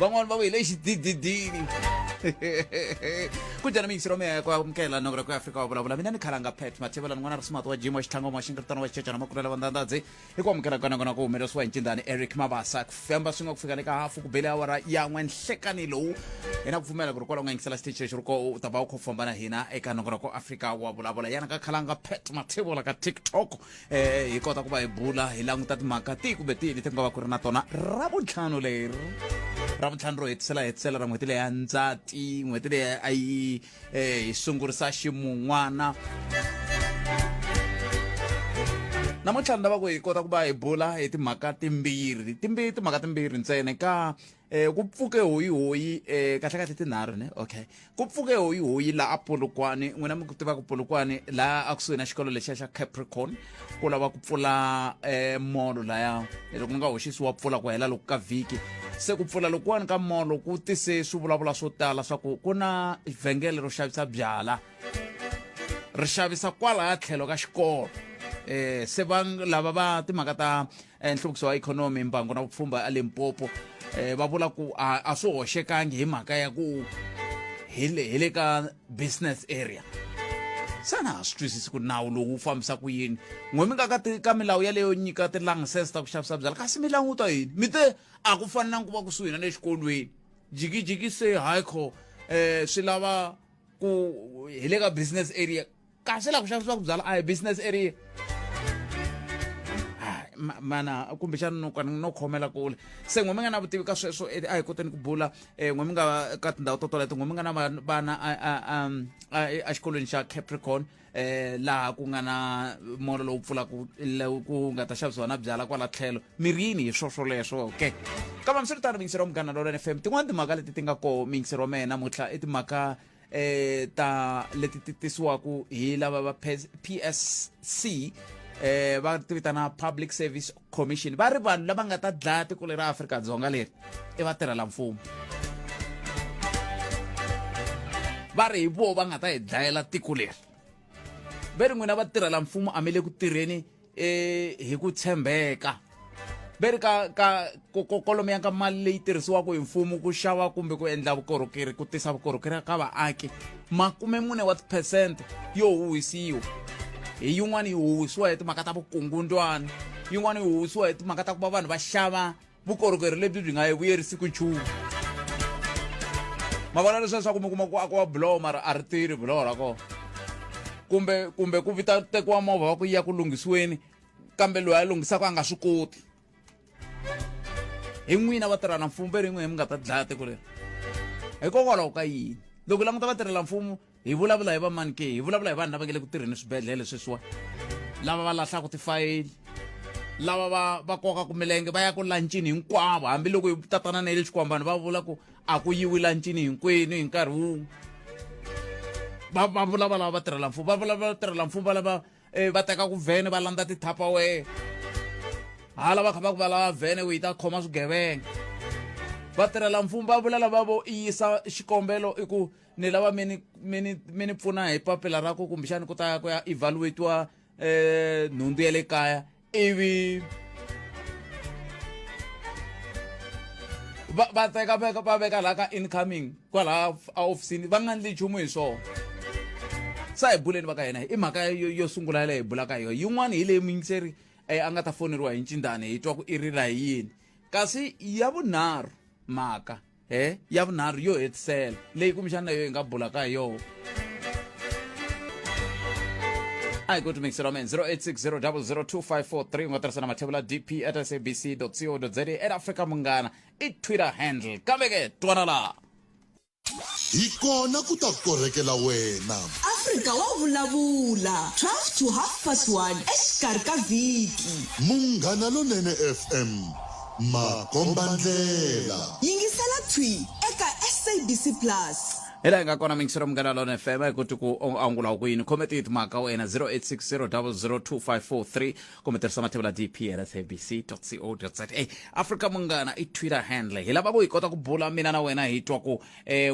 van'wani va ku hi le xidididini kunjani miyingisiro meya ya ku amukela nongora ku afrika wa vulavula mina ni khalanga pat mathevela n'wana ri sumati wa jim wa xitlhangoma wa xinkiritano wa xicecana makulela vandandadzi hi ku amukela ka nangona ku humelerisiwa hi ncindani eric mabasa ku famba swi nga ku fika le ka hafu ku bele awara yan'we nhlekani lowu hi na ku pfumela ku ri kwalaho nga yingisela xitichi lexi ri ko u ta va u kho famba na hina eka nongora ku afrika wa vulavula yana ka khalanga pat mathevula ka tiktok eh hi kota ku va hi bula hi languta timhaka tihi kumbe tihi leti ku nga va ku ri na tona ra vuntlhanu leri ra vuntlhanu ro hetisela hetisela ra n'hweti leyi ya ndzati n'hweti leyi a yi eh, hi sungurisa ximun'wana namuntlha ni lava ku hi kota ku va hi bula hi timhaka timbirhi timbirhi timhaka timbirhi ntsene ka eh ku pfuke hoyi hoyi eh kahle kahle tinharhu ne okay ku pfuke hoyi hoyi la a polokwane n'wina mi ku tiva ku polokwane la a kusuhi na xikolo lexiya xa capricorn ku lava ku pfula eh molo laya loko nga hoxisiwa pfula ku hela loko ka vhiki se ku pfula lokuwani ka molo ku tise swivulavula swo tala swa ku ku na vhengele ro xavisa byala ri xavisa kwalaya tlhelo ka xikolo eh se va lava va timhaka ta eh, nhluvukiso wa ikhonomi mbango na vupfhumba elimpopo eh, va vula ku a, a swi hoxekangi hi mhaka ya ku hi le hi le ka business area xana ha swi twisisi ku nawu lowu wu fambisa ku yini n'we mi nga ka ti- ka milawu yaleyo nyika tilangsese ta ku xavisa byala kasi mi languta yini mi te a ku fanelanga ku va kusuhi na le xikolweni jikijiki se haikho um swi lava ku hi le ka business area kasi la ku xavisiwaka byala a hi business area mana kumbexana no kana no khomela kule se n'we mi nga na vutivi ka sweswo eh, a hi koteni ku bula eh, n'we mi nga ka tindhawu to toleto n'we mi nga na vana exikolweni xa capricorn eh laha ku nga na mola lowu pfulaka ku nga ta xavisiwa na byala kwala tlhelo mirini hi swo swoleswo ke kambe mi swi ri tano mingiseri wa munghana lolene fm tin'wana timhaka leti ti nga koho mingiseri wa mehe namuntlha i timhaka eh ta leti ti tisiwaku hi lava va PSC eh va ti vitana Public Service Commission va ri vanhu lava nga ta dlaya tiko leri Afrika-Dzonga leri i vatirhela mfumo va ri hi vo va nga ta hi dlayela tiko leri ve ri n'wina vatirhela mfumo a mi le ku tirheni e hi ku tshembeka ve ri ka ka kolomo ya ka mali leyi tirhisiwaka hi mfumo ku xava kumbe ku endla vukorhokeri ku tisa vukorhokeri ka vaaki makume mune wa tiphesente yo huhisiwa hi yin'wana yi huhisiwa hi timhaka ta vukungundwana yin'wana yi huhisiwa hi timhaka ta ku va vanhu va xava vukorhokeri lebyi byi nga yi vuyerisiku nchumu ma vona leswi leswaku mi kuma ku akiwa buloho mara a ri tirhi buloho ra kona kumbe kumbe ku vita tekiwa movha wa ku ya ku lunghisiweni kambe loyi a lunghisaka a nga swi koti hi n'wina vatirha na mfumo ve ri n'wina mi nga ta dlaya tiko leri hikokwalaho ka yini loko languta vatirhela mfumo hi vulavula hi vamani ke hi vulavula hi vanhu lava nge le ku tirheni swibedhlele sweswiwa lava va lahlaka tifayili lava va va kokaka milenge va ya ku lancini hinkwavo hambiloko yi tatana na yi le xikwambani va vula ku a ku yiwi lancini hinkwenu hi nkarhi wun'we va va vulavula lava va tirhela mfumo va vulavula va tirhela mfumo va lava eh, va teka ku vhene va landza tithapawee hala va kha va ku va lava vhene ku yi ta khoma swigevenga vatirhela mfumo va vula lava vo yisa xikombelo i ku ni lava mi ni mi ni mi ni pfuna hi papila ra ku kumbexani ku ta ku ya evaluatiwa um nhundzu ya le kaya ivi va va teka veka va veka laha ka incoming kwalaha ehofisini va nga ndli nchumu hi swona sa hi buleni va ka hina i mhaka yo yo sungula leyi hi bulaka hi yona yin'wana hi leyi muyingiseri eh, a nga ta foneriwa hi ncindani hi twa ku i rila hi yini kasi ya vunharhu mhaka he ya vunharhu yo hetisela leyi kumbexana yo hi nga bulaka hi yona a hi koti mikiselo amen 0860002543 u nga tirhisa na mathevula dp at sabc co za at africa munghana i twitter handle kambe ke twana laha hi kona ku ta korhekela wena afrika wa vulavula 12 to half past 1 exikarhi ka vhiki munghana lonene fm makombandlela. Yingisela Thwi eka SABC Plus. hi laha hi nga kona mingisero munghana lona fm hi kuti ku u angula ku yini khome ti timhaka ka wena 0860002543 kumbe tirhisa mathevula dpl sabc co za africa munghana i twitter handle hi lava ku hi kota ku bula mina na wena hi twa ku um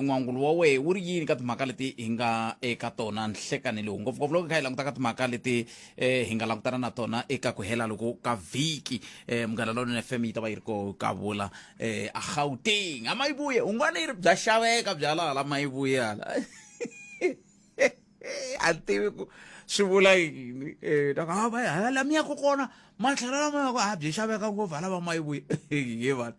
n'wangulo wa wehe wu ri yini ka timhaka leti hi nga eka tona nhlekanelo ngopfungopfu loko hi kha hi languta ka timhaka leti eh hi nga langutana na tona eka ku hela loko ka vhiki eh munghana lonene fm yi ta va yi ri ko ka vula eh a gauteng a mayivuye un'wana yi ri bya xaveka bya laha la mayivuye hala a ni tivi ku swi vula yini eh ta ku, "Ah, va- hala la mi yaka kona matlhela lama yaka a byi xaveka ngopfu hala va mayivuye he vana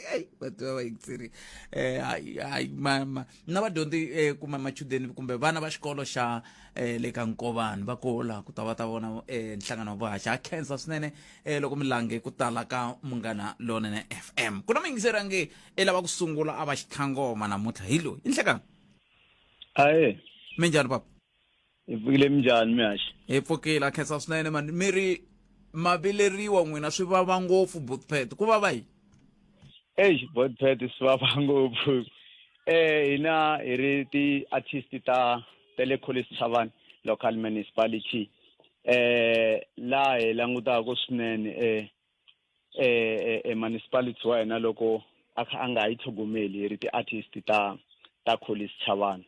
Hey, vati va va yitsiri eh hayi hayi ma ma na vadyondzi eh kuma machudeni kumbe vana va xikolo xa eh le ka nkovani va kola ku ta va ta vona eh nhlangano wa vuhaxi ha khensa swinene eh loko mi lange ku tala ka munghana lonene FM ku na muyingiseri a nge i lava ku sungula a va xitlhangoma namuntlha hi loyi i nhlekani aye minjhani papa hi pfukile minjhani mihaxi hi pfukile a khensa swinene mani mi ri mavileriwa n'wina swi vava ngopfu botpet ku vava yini eish botpet swi vava ngopfu eh hina hi ri ti-artist ta ta le college chavani local municipality eh laha hi langutaka swinene eh eh e municipality wa hina loko a kha a nga yi tlhogomeli hi ri ti-artist ta ta college chavani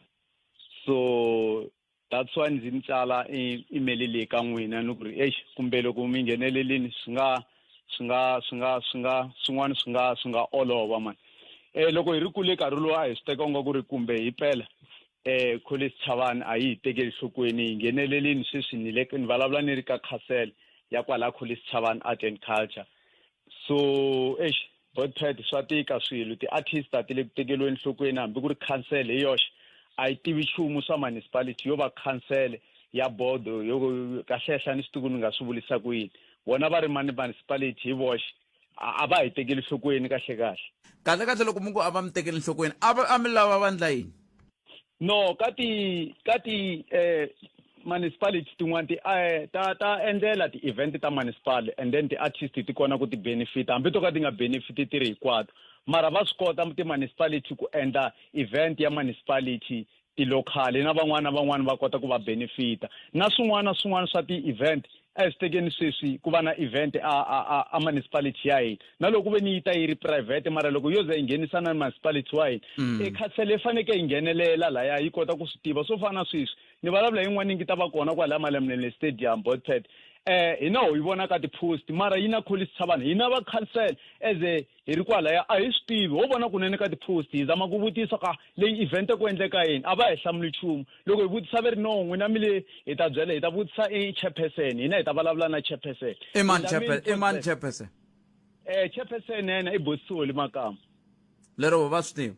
so that's why ndzi mi tsala e- email leyi ka n'wina ni ku ri exi kumbe loko mi nghenelelini swi nga swi nga swi nga swi nga swin'wana swi nga swi nga olova mani um loko hi ri kule nkarhi lowu a hi swi teka nga ku ri kumbe hi pela um college chavani a yi hi tekeli nhlokweni hi nghenelelini sweswi ni le ni vulavula ni ri ka castle ya kwala college chavani art and culture so exi Boypad swa tika swilo ti-artist a ti le ku tekeriweni enhlokweni hambi ku ri council hi yoxe a yi tivi nchumu swa municipality yo va council ya bodo yo kahlehla ni xituku ni nga swi vulisa ku yini vona va ri mani municipality hi voxe a va hi tekeli nhlokweni kahle kahle kahle kahle loko mungu a va mi tekeli nhlokweni a va a mi lava vandla yini no ka ti ka ti eh, municipality tin'wana ti eh, ta ta endlela ti-event ta municipal and then ti-artist ti kona ku ti-benefita hambi to ka ti nga benefiti ti ri hinkwato mara va swi kota ti-municipality ku endla event ya municipality tilokhali na van'wana na van'wana va kota ku va benefita na swin'wana na swin'wana swa ti-event a hi swi tekeni sweswi ku va na event a a a, a municipality ya hina na loko ve ni yi ta yi ri private mara loko yo ze yi nghenisana ni municipality wa hina mm. e khansele yi fanekele yi nghenelela laya yi kota ku swi tiva swo fana na sweswi ni vulavula yin'wana yi ngi ta va kona kwalaya malemnele stadium botpad eh hina ho yi vona ka ti-post mara yi na kholisavanhu hina va khansele as a hi ri kwalaya a hi swi tivi ho vona kunene ka tipost hi zama ku vutisa ka leyi event ku endleka yini a va hi hlamuli nchumu loko hi vutisa ve ri no n'wina mi le hi ta byela hi ta vutisa i chairperson hina hi ta vulavula na chairperson i mani Hi ta mi chairpe- i mani request- chairperson eh chairperson yena i bosisoli makama lero va swi tiva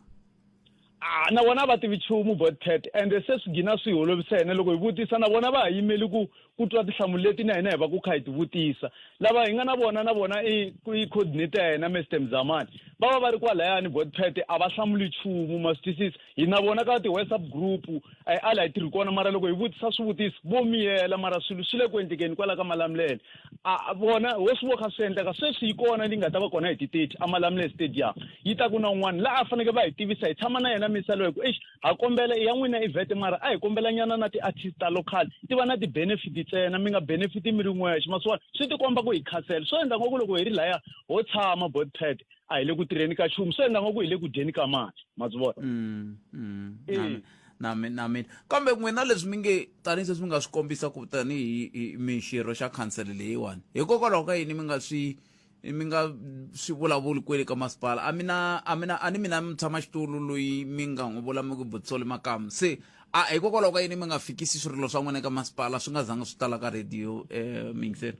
a na vona a va tivi nchumu bot cat ende se swi gina swi hi olovisa hina loko hi vutisa na vona va ha yimeli ku ku twa tinhlamulo leti na hina hi va ku kha hi ti vutisa lava hi nga na vona na vona i i coordinator ya hina mr mzamani va va va ri kwalayani bot pat a va hlamuli nchumu ma swi twisisa hi na vona ka ti-whatsapp group a hi ala hi tirhi kona mara loko hi vutisa swivutiso vo miyela mara swilo swi le ku endlekeni kwala ka malamulele a vona hosi wo kha swi endleka sweswi yi kona leyi nga ta va kona hi ti-thirty amalamule stadium yi ta ku na un'wana laha a fanekele va hi tivisa hi tshama na yena misa loyi ku exi ha kombela i ya n'wina ivete mara a hi kombela nyana na ti-artist ta local ti va na ti-benefit ntsena mi nga benefiti mi ri n'wexe masiwana swi tikomba ku hi khasela swo endla ngoku loko hi ri laya ho tshama botpad a hi le ku tirheni ka nchumu swi endla ngoku hi le ku dyeni ka mali ma byi vona mm, mm, na mina na mina kambe n'wina leswi mi nge tanihi sweswi mi nga swi kombisa ku tanihi mixirho xa khansele leyiwani hikokwalaho ka yini mi nga swi mi nga swi vulavuli kwele ka masipala a mina a mina a ni mina mutshama xitulu loyi mi nga n'wi vula mi ku butsole makamu se a hikokwalaho ka yini mi nga fikisi swirilo swa n'wina ka masipala swi nga zanga swi tala ka radio um eh, mingiseri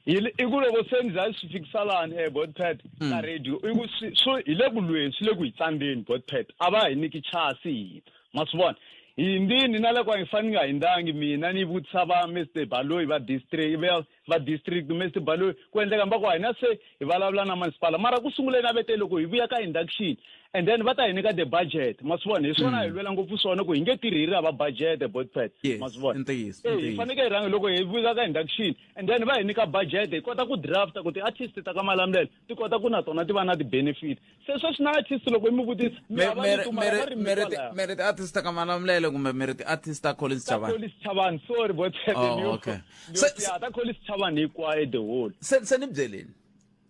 Hi- i ku loko se ni za ni swi fikisa lani eh, botpet Mm. ka radio i ku swi- swo hi le ku lweni swi le ku hi tsandzeni botpet a va hi niki chasi hina ma swi vona hi hindini na le kwa hi fane ni nga hindhangi mina ni vutisa va mr baloyi va district va- va district mr baloyi ku endleka mba ku hina se hi vulavula na masipala mara ku sunguleni a ve te loko hi vuya ka induction and then va ta hi nyika the budget ma swi vona hi swona hi mm. lwela ngopfu swona ku hi nge tirhi hi ri hava budget botpad ma swi vona eh, hi fanekele hi rhangi loko hi vuya ka induction and then va hi nyika budget hi kota ku drafta ku ti-artist ta ka malamulelo ti kota ku na tona ti va na ti-benefit se sweswi na artist loko i mi vutisa mi hava mere vitu mara va ri mi mere kwalaya. mere ti artist ka malamulele kumbe mere ti artist ta collins ta chavani Collins Chavani sorry bo Tshepe Oh, ni- okay. ni- Se- ya, ta Collins Chavani hinkwayo the whole se se ni byeleni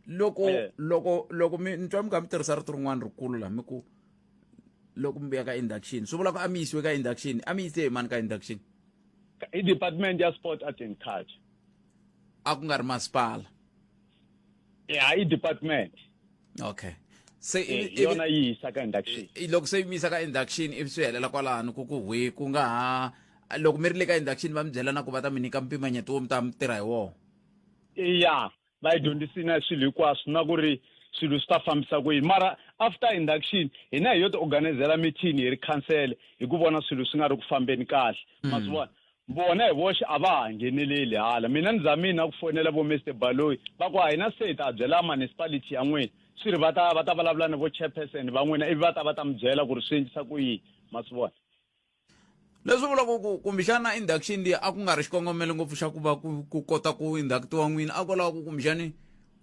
loko Eh. loko loko mi ni twa mi kha mi tirhisa rito rin'wana rikulu la mi ku loko mi vuya ka induction swi vula ku a mi yisiwe ka induction a mi yise hi mani ka induction i department ya sport art and culture a ku nga ri masipala ya i-department okay se eh, yona yi yisa ka induction loko se yi mi yisa ka induction ivi swi helela kwalano ku ku hwi ku nga ha loko mi ri le ka induction va mi byela na ku va ta mi nyika mpimanyeto wo mi ta mi tirha hi wona ya va yi dyondzisina swilo hinkwaswo na ku ri swilo swi ta fambisa ku yini mara after induction hina hi yo ti organizela mithini hi ri khansele hi ku vona swilo swi nga ri ku fambeni kahle mm. ma swi vona vona hi voxe a va ha ngheneleli hala mina ni zamini na ku fonela vo mister baloyi va ku a hi na seta a byela municipality ya n'wina swi ri va ta va ta vulavula ni vo chairperson va n'wina ivi va ta va ta mi byela ku ri swi endlisa ku yini ma swi vona leswi vulaka ku kumbexana induction leyi a ku nga ri xikongomelo ngopfu xa ku va ku kota ku inductiwa n'wina a ku lava ku kumbexani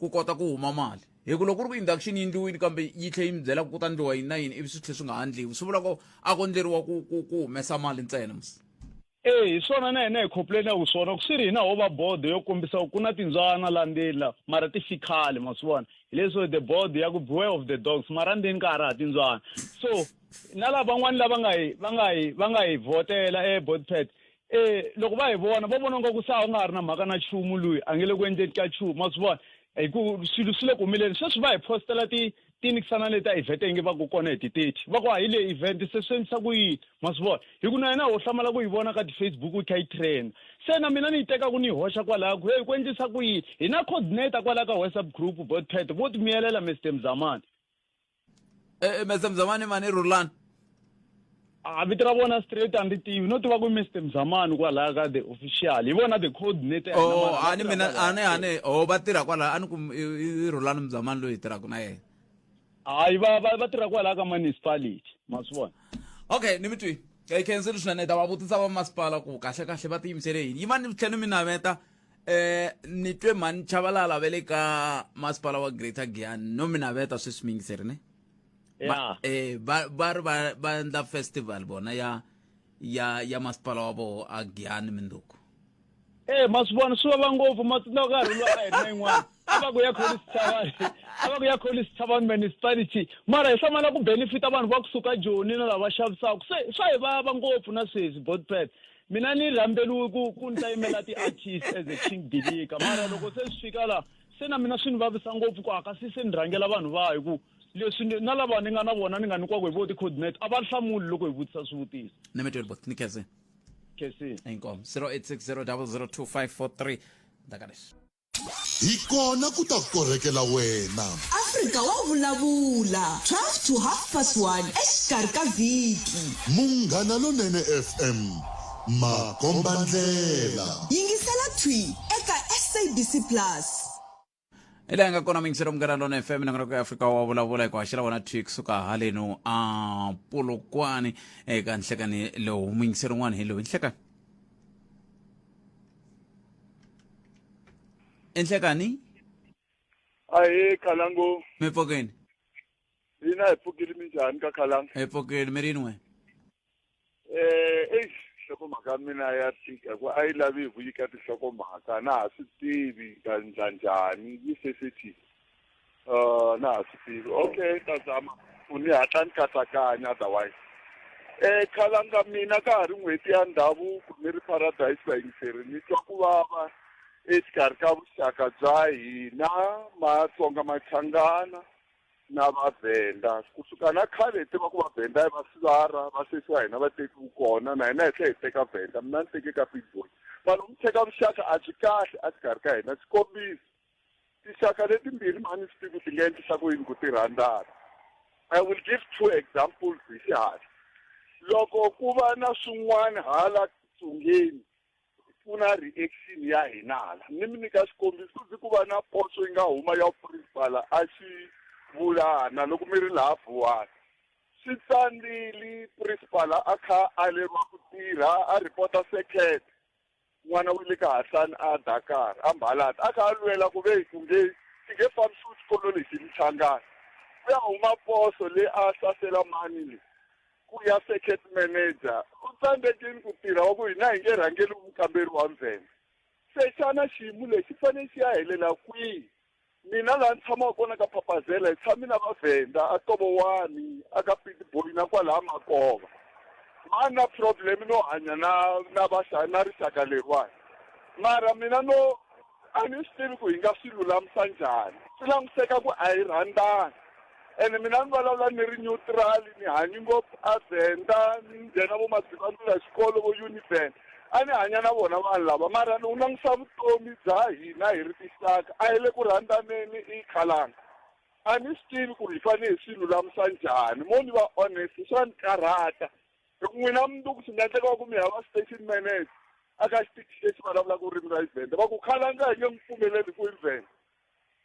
ku kota ku huma mali hi ku loko ku ri ku induction yi ndliwile kambe yi tlhe yi mi byela ku ku ta ndliwa yini na yini ivi swi tlhe swi nga ha ndliwi swi vulaka a ko ndleriwa ku ku ku humesa mali ntsena eyi hi swona na hina hi khopulelaka swona ku swi ri hina ho va bodo yo kombisa ku na tindzwana la ndzeni la mara ti fikhale ma swi vona hi leswo the board ya ku beware of the dogs mara ndzeni ka ha ri ha tindzwana so na lava van'wani lava nga hi va nga hi va nga hi vhotela eboard pad um loko va hi vona va vona nga ku sa u nga ha ri na mhaka na chumu loyi a nge le ku endleni ka chumu ma swi vona hi ku swilo swi le ku humeleni sweswi va hi postela ti ti nikisa na le ta event yinge va ku kona hi ti-thirty va ku a hi le event se swi endlisa ku yini ma swi vona hi ku na yena ho hlamala ku yi vona ka ti-facebook yi kha yi trend se na mina ni yi teka ku ni yi hoxa kwalaya ku heyi ku endlisa ku yini hi na coordinator kwalaya ka whatsapp group botpet vo ti miyelela mr mzamani e, e, mr mzamani mani rhulani a vito ra vona straight a ndzi tivi no tiva ku mr mzamani kwalaya ka the official hi vona the coordinator oh a ni mina a ni a ni oh va tirha kwalaya a ni ku i rhulani mzamani loyi hi tirhaka na yena hayi va va va tirha kwalaya ka municipality ma swi vona okay ni mi twi hi khenseli swinene ta va vutisa va masipala ku kahle kahle va tiyimisele yini yi va ni tlhela ni mi naveta eh ni twe mhani chavalala va le ka masipala wa greater giyan no mi naveta sweswi mi yingiseri ne ba eh ba ba ri ba ba endla festival bona ya ya ya masipala wa voho a giyani minduku e ma swi vona swi vava ngopfu ma tsundzuka nkarhi lowu a hi ri na yin'wana a va ku ya kholi sithavani a va ku ya kholi sithavani municipality mara hi hlamala ku benefita vanhu va kusuka joni na lava xavisaka se swa hi vava ngopfu na sweswi botpet mina ni rhambeliwe ku ku ni ta yimela ti-artist as a king dilika mara loko se swi fika laha se na mina swi ni vavisa ngopfu ku hakasi se ni rhangela vanhu va hi ku leswi na lava ni nga na vona ni nga nyikwaka hi vo ti-coordinate a va hlamuli loko hi vutisa swivutiso nemetweni bo ni khese khese inkomo 0860 002 ndakaleswi hi kona ku ta korhekela wena afrika wa vulavula 12 to half past 1 exikarhi ka vhiki munghana lonene fm makombandlela. Yingisela Thwi eka SABC Plus. hi laha nga kona mingiselo munghana lona fm nangonoko ya afrika wa vulavula hi ku haxela wona thwi kusuka haleno a polokwane eka nhlekani lowu mingiselo un'wana hi lowu nhlekani enhlekani ahee khalango mi pfokeni hina hi pfukile minjhani ka khalango hi pfokeni mi rin'we Eh, eish nhlokomhaka ya mina ya tika hikuva a yi lavi hi ku nyika tinhlokomhaka na ha swi tivi ta ndla njhani yi seseti um na ha swi tivi okay ta zama u ni hatla ni katsakanya otherwise um khalanga mina ka ha ri n'hweti ya ndhavuko ni ri paradise vayingiseri ni twa ku vava exikarhi ka vuxaka bya hina matsonga machangana na vavhenda kusuka na khale hi tiva ku vavhenda va sivara va sesiwa hina vateki wu kona na hina hi tlhe hi teka vhenda mina ni teke ka big boy vanhu mi tsheka vuxaka a byi kahle a xikarhi ka hina xikombiso tixaka letimbirhi mhani swi tivi ti nga endlisa ku yini ku ti rhandzana i will give two examples hi xihatla loko ku va na swin'wana hala tsungeni pfuna reaction ya hina hala ni mi nyika xikombiso ndzi ku va na potso yi nga huma ya principal a xi vulana loko mi ri laha vuwani swi tsandzili principal a kha a leriwa ku tirha a report-a second n'wana wa le ka hahlani a dakar a mbalata a kha a lwela ku ve ku nge xi nge fambisiwi xikolo lexi michangani ku ya huma poso leyi a hlasela mani leyi ku ya circuit manager u tsandzekile ku tirha wa ku hina hi nge rhangeli vukamberi wa ndzhenge se xana xiyimo lexi fanele xi ya helela kwihi mina laha ni tshamaka kona ka phapazela hi tshami na vavhenda a tovowani a ka pitboy na kwalaha makova ma na problem no hanya na na na rixaka leriwani mara mina no A ni swi tivi ku hi nga swi lulamisa njhani. Swi languseka ku a hi rhandzani. Ene mina ni vulavula ni ri nyutirali, ni hanyi ngopfu aVenda, ni nghena vo Madzivandlula xikolo, vo Univen. A ni hanya na vona vanhu lava, mara ni wu langusa vutomi bya hina hi ri tinxaka, a hi le ku rhandzaneni i khalanga. A ni swi tivi ku hi fanele hi swi lulamisa njhani. Mo ni va honest, swa ni karhata. Loko n'wina mi ngo ku swi nga endleka va ku mi hava station manager a ka xitichi lexi vulavulaka ririmi ra Xivhenda va ku khalanga hi nge n'wi pfumeleli ku i Vhenda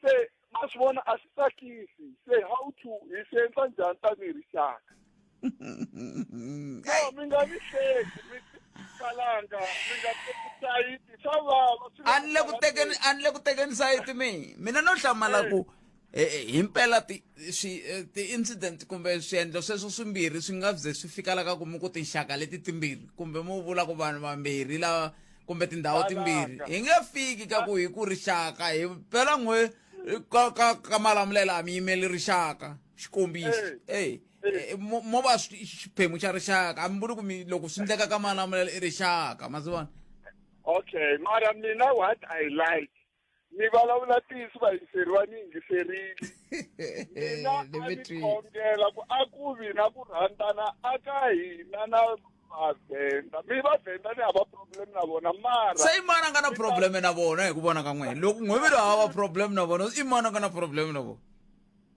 se ma swi vona a swi tsakisi se how to hi swi endla njhani tanihi rixaka no mi nga ni hleki mi kalanga mi nga teki sayiti swa vava a ni le ku tekeni a ni le ku tekeni sayiti mi mina no hlamala ku e, e, hi mpela e, ti-incident ti kumbe swiendlo sweswo swimbirhi swi nga ze swi fika la ka ku mi ku tinxaka leti timbirhi kumbe mu vula ku vanhu vambirhi lava kumbe tindhawu timbirhi hi nge fiki ka ku hi ku rixaka hi mpela n'we ka ka ka malamulela a mi yimeli rixaka xikombiso eyi Eh, mo va xiphemu xa rixaka a mi vuli ku mi loko swi endleka ka malamulelo i rixaka ma swi vona okay mara mina what i like mi vulavula ntiyiso vayingiseri va ni yingiserile mina a ni khongela ku a ku vi na ku rhandzana a ka hina na vavhenda mi vavhenda ni hava problem na vona mara se i mani a nga na problem na vona hi ku vona ka n'wina loko n'wivilo hava problem na vona i mani a nga na problem na vona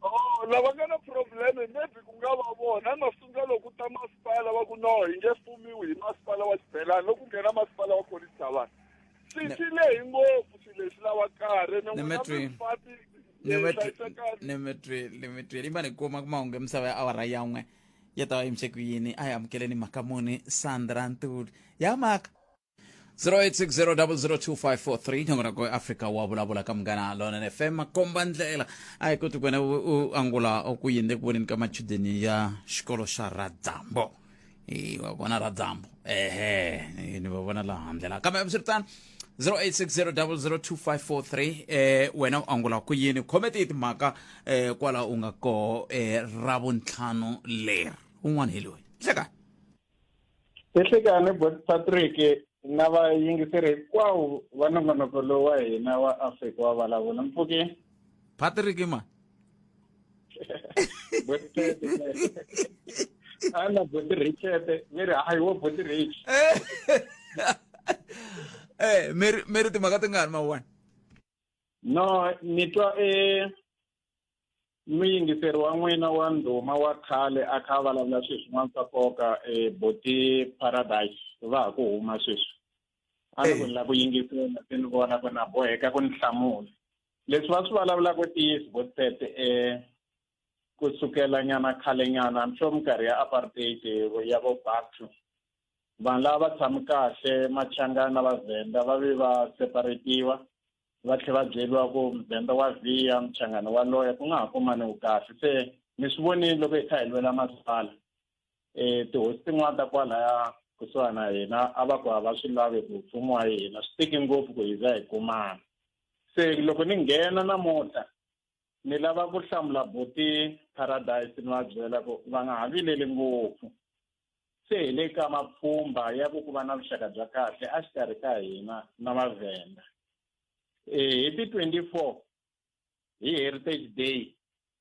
Oh, lava nga na problem maybe ku nga va vona masunga loko ta masipala va ku no hi nge fumiwi hi masipala wa xibelani loko nghena masipala wa college javana swi swi lehi ngopfu swi leswi lava karhi ni n'wina mifati nimitweli imani kuma kumahungu emisava ya awara yan'we ya ta va yimise ku yini a hi amukeleni mhaka muni sandra ntuli ya mhaka 0860002543 nyongo rako afrika wa vulavula ka munghana lona fm makomba ndlela a hi koti ku wena u angula ku yini le ku voneni ka machudeni ya xikolo xa radzambo hi wa vona ra dyambu ehe hi- ni va vona laha handle laha kambe hambiswiritano 0860002543 eh wena u angula ku yini khomete hi timhaka eh kwala u nga koho eh ra vuntlhanu leri un'wana hi loyi hleka ehlekani bot patrick na vayingiseri hinkwawo va nongonoko lowu wa hina wa afrika wa vulavula mpfuke patrick ma ana boti richete mi ri hayi wo boti rich eh mi ri- mi ri timhaka tingani mawani no ni twa e muyingiseri wa n'wina wa ndhuma wa khale a kha a vulavula swilo swin'wana swa nkoka e boti paradise va ha ku huma sweswi a ni ku ni lava ku yingisela se ni vona ku na boheka ku ni hlamula leswi va swi vulavulaka tiyisi vo tete um ku sukela nyana khale nyana i'm sure minkarhi ya apartheid ya vo batu vanhu lava va tshami kahle machangana na vavhenda va ve va separetiwa va tlhe va byeriwa ku muvhenda wa vhiya muchangana wa loya ku nga ha kumaniwi kahle se mi swi vonile loko hi kha hi lwela masipala um tihosi tin'wana ta kwalaya kusuhana na hina a va ku a va swi lavi ku mfumo wa hina swi tiki ngopfu ku hi za hi kumana se loko ni nghena namuntlha ni lava ku hlamula buti paradise ni va byela ku va nga ha vileli ngopfu se hi le ka mapfhumba ya ku ku va na vuxaka bya kahle a xikarhi ka hina na mavhenda um hi ti-twenty four hi heritage day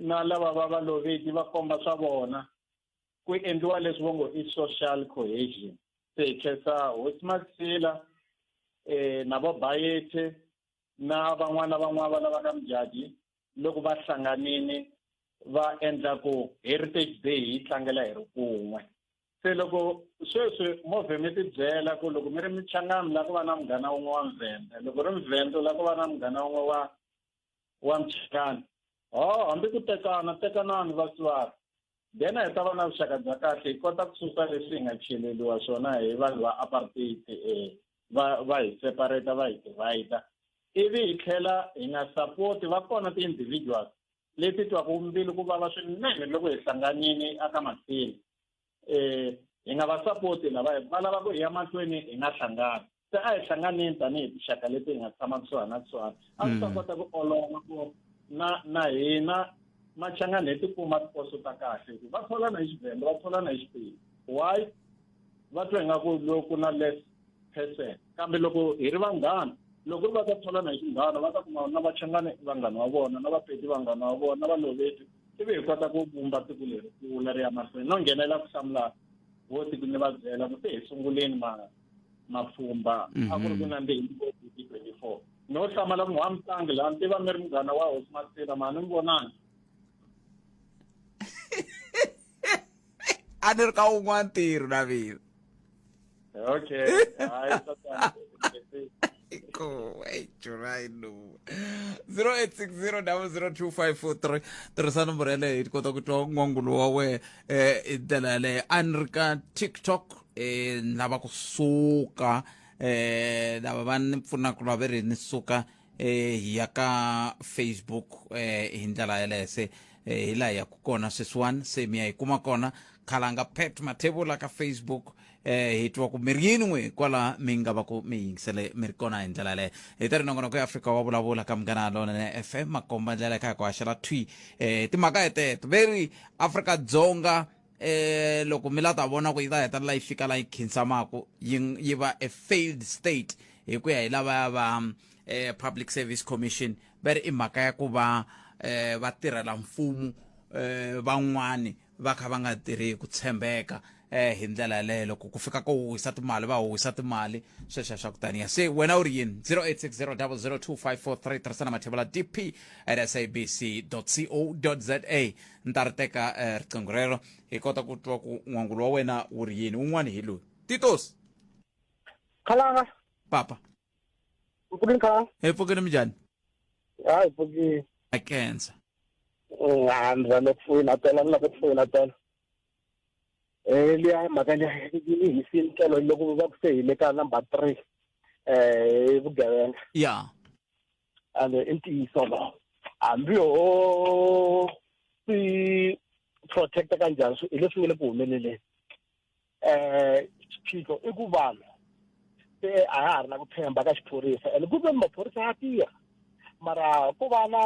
na lava va va loveki va komba swa vona ku endliwa leswi vo ngo i social cohesion se hi khensa hosi maxila um eh, na vo bayethe na van'wana van'wana va lava ka mudyaji loko va hlanganini va endla ku heritage day hi tlangela hi ri kun'we se loko sweswi movhe mi ti byela ku loko mi ri michangami la ku va na munghana wun'we wa mvhende loko ri mvhende la ku va na munghana wun'we wa wa mchikani ho hambi ku tekana tekanani vatswari then hi ta va na vuxaka bya kahle hi kota ku susa leswi hi nga cheleliwa swona hi vanhu va apartheid um va va hi separata va hi divide ivi hi tlhela hi nga sapoti va kona ti-individuals leti twaku mbilu ku vava swinene loko hi hlanganini aka mahlweni um hi nga va sapoti lava va lava ku hi ya mahlweni hi nga hlangani se a hi hlanganeni tanihi tinxaka leti hi nga tshama kusuhani na kusuhani a swi ta mm. kota ku olova ku na na hina machangani hi tikuma tiposo ta kahle hikuva va tholana hi xivhenda va tholana hi xiphiyi why va twa ingaku loko na less person kambe loko hi ri vanghana loko ri va ta tholana hi xinghana va ta kuma na vachangani vanghana wa vona na vapedi vanghana wa vona na valoveti ivi hi kota ku vumba tiko leri kula ri ya mahlweni no nghenela ku hlamula vo tiko ni va byela ku se hi sunguleni ma mapfhumba a ku ri ku mhm. nandzihini ngopfu hi twenty four no hlamala munhu wa mutlangi laha ni tiva mi ri munghana wa hosi masina mhani mi vonani a ni ri ka wun'wana ntirho na mina okay hayi Cool. Hey, July no. 0860002543 tirhisa nomboro yaleyo hi kota ku twa n'wangulo wa wena eh hi ndlela yaleyo a ni ri ka tiktok eh ni lava ku suka eh lava va ni pfunaka lava ve ri ni suka eh, hi ya ka facebook eh, hi ndlela yeleyo se eh, hi laha hi yaku kona sweswiwani se mi ya hi kuma kona khalanga pet mathevula ka facebook eh, hi twa ku mi ri yini n'we kwala mi nga va ku mi yingisele mi ri kona hi ndlela yeleyo hi ta ri nongonoko ya afrika wa vulavula ka munghana lonene fm makomba ndlela ka hi ku haxela thwi eh, timhaka heteto ve ri afrika dzonga eh loko mi la ta vona ku yi ta hetelela yi fika la yi khinsamaku yi yi va a failed state hi ku ya hi lavaya va eh public service commission va ri i mhaka ya ku va eh va tirhela mfumo eh van'wani va kha va nga tirhi ku tshembeka eh hi ndlela yaleyo loko ku fika ko huhisa timali va huhisa timali sweswo swa ku taniya se wena u ri yini 0860002543 tirhisana mathevula dp at sabc co za ni ta ri teka eh, riqingho rero hi kota ku twa ku n'wangulo wa wena wu ri yini wun'wana hi loyi titos khalanga papa mpfukini khalanga hi pfukini minjhani ha hi pfukini a kensa ha ni rhandza ku foyina tela ni lava ku foyina tela um liya mhaka liya yi hisini tlelo loko va ku se hi le ka number three um vugevenga ya ande i ntiyiso lowo hambi ho swi protect-a ka njhani swi hi leswi nge le ku humeleleni um xiphiqo i ku vanhu se a ha ha ri na ku tshemba ka xiphorisa and ku ve maphorisa ya tirha mara ku va na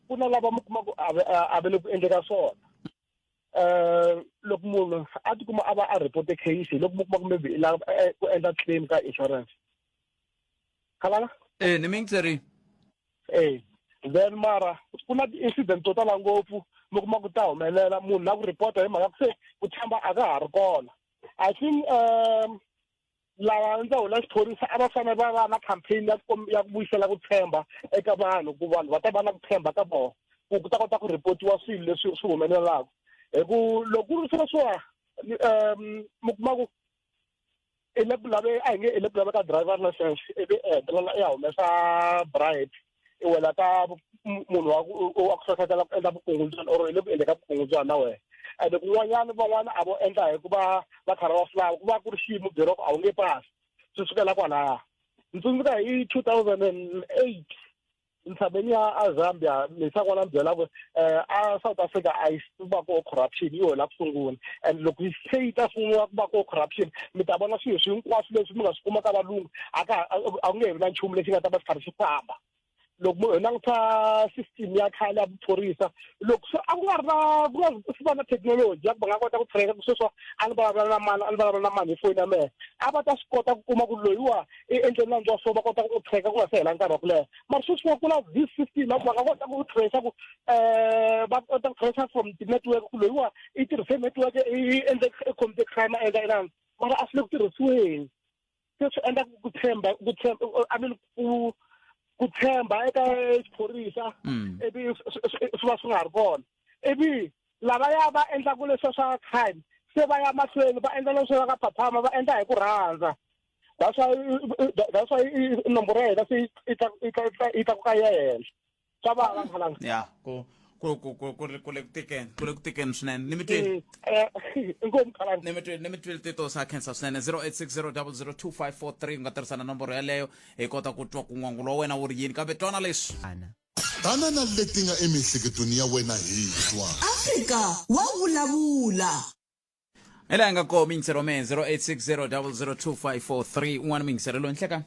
ku na lava mi kuma ku a ve le ku endleka swona eh loko munhu a tikuma a va a report case loko mu kuma kumbe la eh, ku endla claim ka insurance khalala eh ni mingi tseri eh then mara ku na ti-incident to tala ngopfu mi kuma ku ta humelela munhu na ku reporta hi mhaka ku se ku tshamba a ka ha ri kona i think um lava ndza hula xiphorisa a va fanele va va na campaign ya ku ya ku vuyisela ku tshemba eka vanhu ku vanhu va ta va na ku tshemba ka vona ku ku ta kota ku reportiwa swilo leswi swi humelelaka hi ku loko ku ri swilo swa um mi kuma ku i le ku lave a hi nge i le ku lave ka driver license ivi i hetelela i ya humesa bribe e wela ka munhu wa wa ku hlohlotela ku endla vukungundzwana or i le ku endle ka vukungundzwana na wena ende kun'wanyana van'wana a vo endla hi ku va va karhi va fulava ku va ku ri xiyimo byeroko a wu nge pasi swi sukela kwalaya ni tsundzuka hi two thousand and eight ntshaveni ya azambia misakwana byela ku um a south africa a yi ku va ko corruption yi hola ku sungula and loko yi se yi ta sungula ku va ko corruption mi ta vona swilo swi hinkwaswo leswi mi nga swi kuma ka valungu a ka a ku nge vi na nchumu lexi nga ta va xi karhi xi famba loko mu languta system ya khale ya vuphorisa loko se a ku nga ri na ku nga swi va na thekinoloji ya ku va nga kota ku tracker ku sweswo a ni vulavula na mani a ni vulavula na mani hi foni ya mehe a va ta swi kota ku kuma ku loyiwa i endleni na ndza so va kota ku tracker ku nga se hela nkarhi wa ku leha mara sweswi va kula this system ya ku va nga kota ku tracer ku eh va kota ku tracer from ti-network ku loyiwa i tirhise network i endle computer crime a endla inani mara a swi le ku tirhisiweni se swi endla ku tshemba ku tshemba i mean ku ku tshemba eka xiphorisa mm. ivi swi va swi nga ha ri kona ivi lava ya va endlaku leswa swa crime se va ya mahlweni va endla leswi va ka phaphama va endla hi ku rhandza that's why that's why nomboro ya hina se yi tlakuka yi ya henhla swa vava mhalanga ya ku ku ku ku ku ri ku le ku tikeni ku le ku tikeni swinene ni mi twile Mm, eh, inkomu mhalanga ni mi twile ni mi twile tito sa khensa swinene 0860002543 u nga tirhisa na nomboro yeleyo hi kota ku twa ku n'wangulo wa wena wu ri yini kambe twana leswi ana tana na leti nga emiehleketweni ya wena hi twa Afrika wa vulavula. ela hi nga koho mingisero me 0860002543 un'wana mingisero loyi nhleka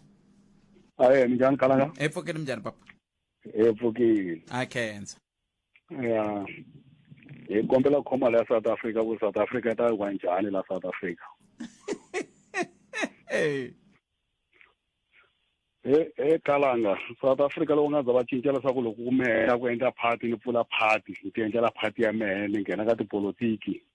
aye minjhani kalanga epfukeni minjhani papa epfukile a khensa ya hi kombela khoma la south africa ku south africa yi ta yi wa njhani la south africa e e kalanga south africa loko nga za va cinca leswaku loko ku mehela ku endla party ni pfula party ni ti endlela party ya mehe ni nghena ka tipolotiki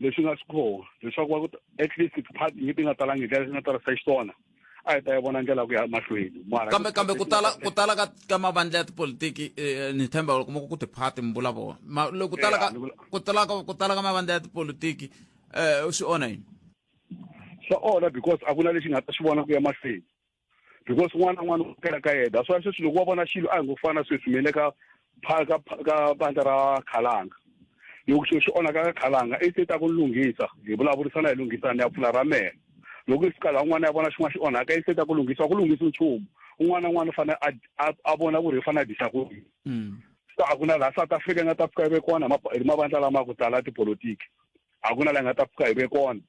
leswi nga swi koho leswaku va at least tiparty leti nga talanga hi ndlela leti nga tarisa xiswona a hi ta yi vona ndlela ku ya mahlweni kambe kambe ku tala ku tala ka ka mavandla ya tipolitiki eh, ni tshemba loko mo ku tiparty mi vula vona ma loko ku tala ka ku tala ka ku tala ka mavandla ya tipolitiki um swi onha yini swa onha because a ku na lexi nga ta xi vona ku ya mahlweni because un'wana na un'wana u kela ka yena so sweswi loko wa vona xilo a hi ngo fana sweswi mele ka ka ka bandla ra khalanga loko xilo xi onhaka ka khalanga i te ta ku lunghisa hi vulavurisana hi lunghisana ni ya pfula ra mehe loko i fika laha un'wana ya vona xin'wana xi onhaka i te ta ku lunghisa ku lunghisi nchumu un'wana na un'wana u fanele a vona ku ri i fanele a disa ku yini mm. so a ku na laha south africa nga ta fika yi vekiwana hi mavandla lama ku tala tipolotiki a ku na la nga ta pfuka hi ve kona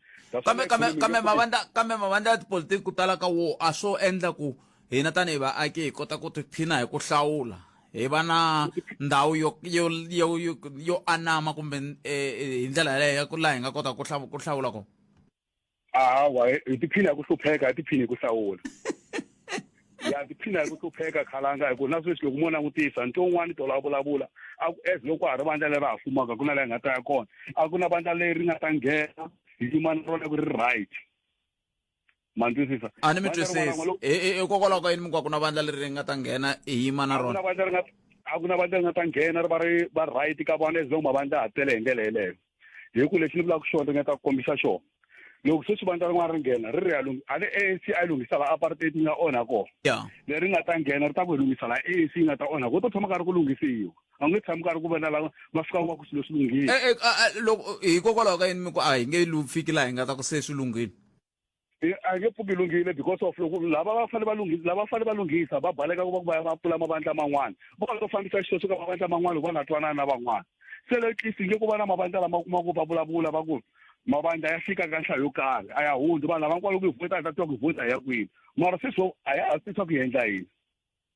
kambe kambe kambe mavandla kambe mavandla ya tipolitiki ku tala ka wo a swo endla ku hina tanihi vaaki hi kota ku tiphina hi ku hlawula hi va na ndhawu yo yo yo yo anama kumbe eh, eh, hi ndlela yaleyo ya ku laha hi nga kota ku ku hlawula kona hawa hi tiphina hi ku hlupheka hi tiphina hi ku hlawula ya tiphina hi ku hlupheka khalanga hi ku na sweswi loko mo langutisa nto un'wana tolo a vulavula a ku as loko ha ri vandla leri ha fumaka ku na leyi nga ta ya kona a ku na vandla leri nga ta nghena hi yima na rona ku ri right mandwisisa a ni mi twisisi hikokwalaho ka yini mi ku a ku na vandla leri ri nga ta nghena hi yima na rona a ku na vandla ri nga ta nghena ri va ri va right ka vona as long mavandla ha tele hi ndlela yeleyo hi ku lexi ni vulaka xona ringeta ku kombisa xona loko sweswi vandla rin'wana ri nghena ri ri ya a le anc a yi lunghisa la apartheid yi nga onha kona leri nga ta nghena ri ta ku hi lunghisa la anc yi nga ta onha kona to tshama karhi ku lunghisiwa a nge tshami karhi ku vona lava va fika va ku swilo swi lunghile eh, eh, loko hikokwalaho ka yini mi ku a hi nge lu fiki laha hi nga ta ku se swi lunghile a nge pfuki lunghile because of loko lava va fanele va lunghisa lava fanele va lunghisa va baleka ku va ku va va pfula mavandla man'wana vo va to fambisa xilo xo ka mavandla man'wana loko va nga twanani na van'wana se le tlisi nge ku va na mavandla lama kuma ku va vulavula va ku mavandla ya fika ka nhlayo yo karhi a ya hundzi vanhu lava nkwalo ku yi vhota a ta twa ku yi vhota ya kwini mara sweswo a ya ha swi swa ku yi endla yini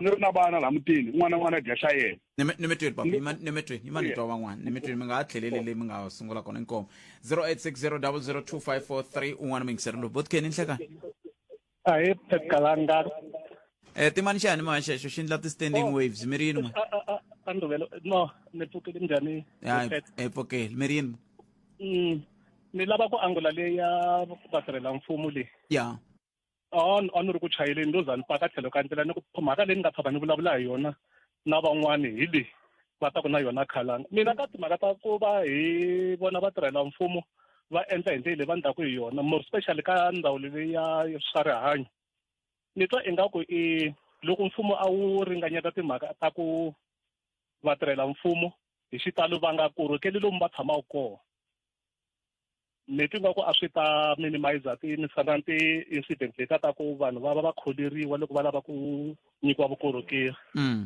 ni ri na vana laha mutini un'wana na un'wana a dya xa yena nimitweni papa nimitweni yima ni twa van'wana nimitweni mi nga ha tlheleli leyi mi nga sungula kona inkomo 0860002543 un'wana mingiseri lowu botkeni nhlekani ahee phekalanga um eh, timani xani ma xexo xi endla ti-standing oh. waves mi ri yini anduvelo no ni pfukile njhani hi pfukile mi ri yini mm, ni lava ku angula leyi ya vatirhela mfumo leyi ya on on ri ku chayeleni ndo za ni paka tlhelo ka ndlela ni ku mhaka leyi ni nga tshama ni vulavula hi yona na van'wani hi leyi va ta ku na yona khalanga mina ka timhaka ta ku va hi vona va tirhela mfumo va endla hi ndlela leyi va ni taku hi yona more specially ka ndhawu leyi ya swa rihanyo ni twa ingaku i loko mfumo a wu ringanyeta timhaka ta ku vatirhela mfumo hi xitalo va nga korhokeli lomu va tshamaka kona leti nga ku a swi ta minimizer ti misana ti incident leta ta ku vanhu va va va kholeriwa loko va lava ku nyikiwa vukorhokeri mm.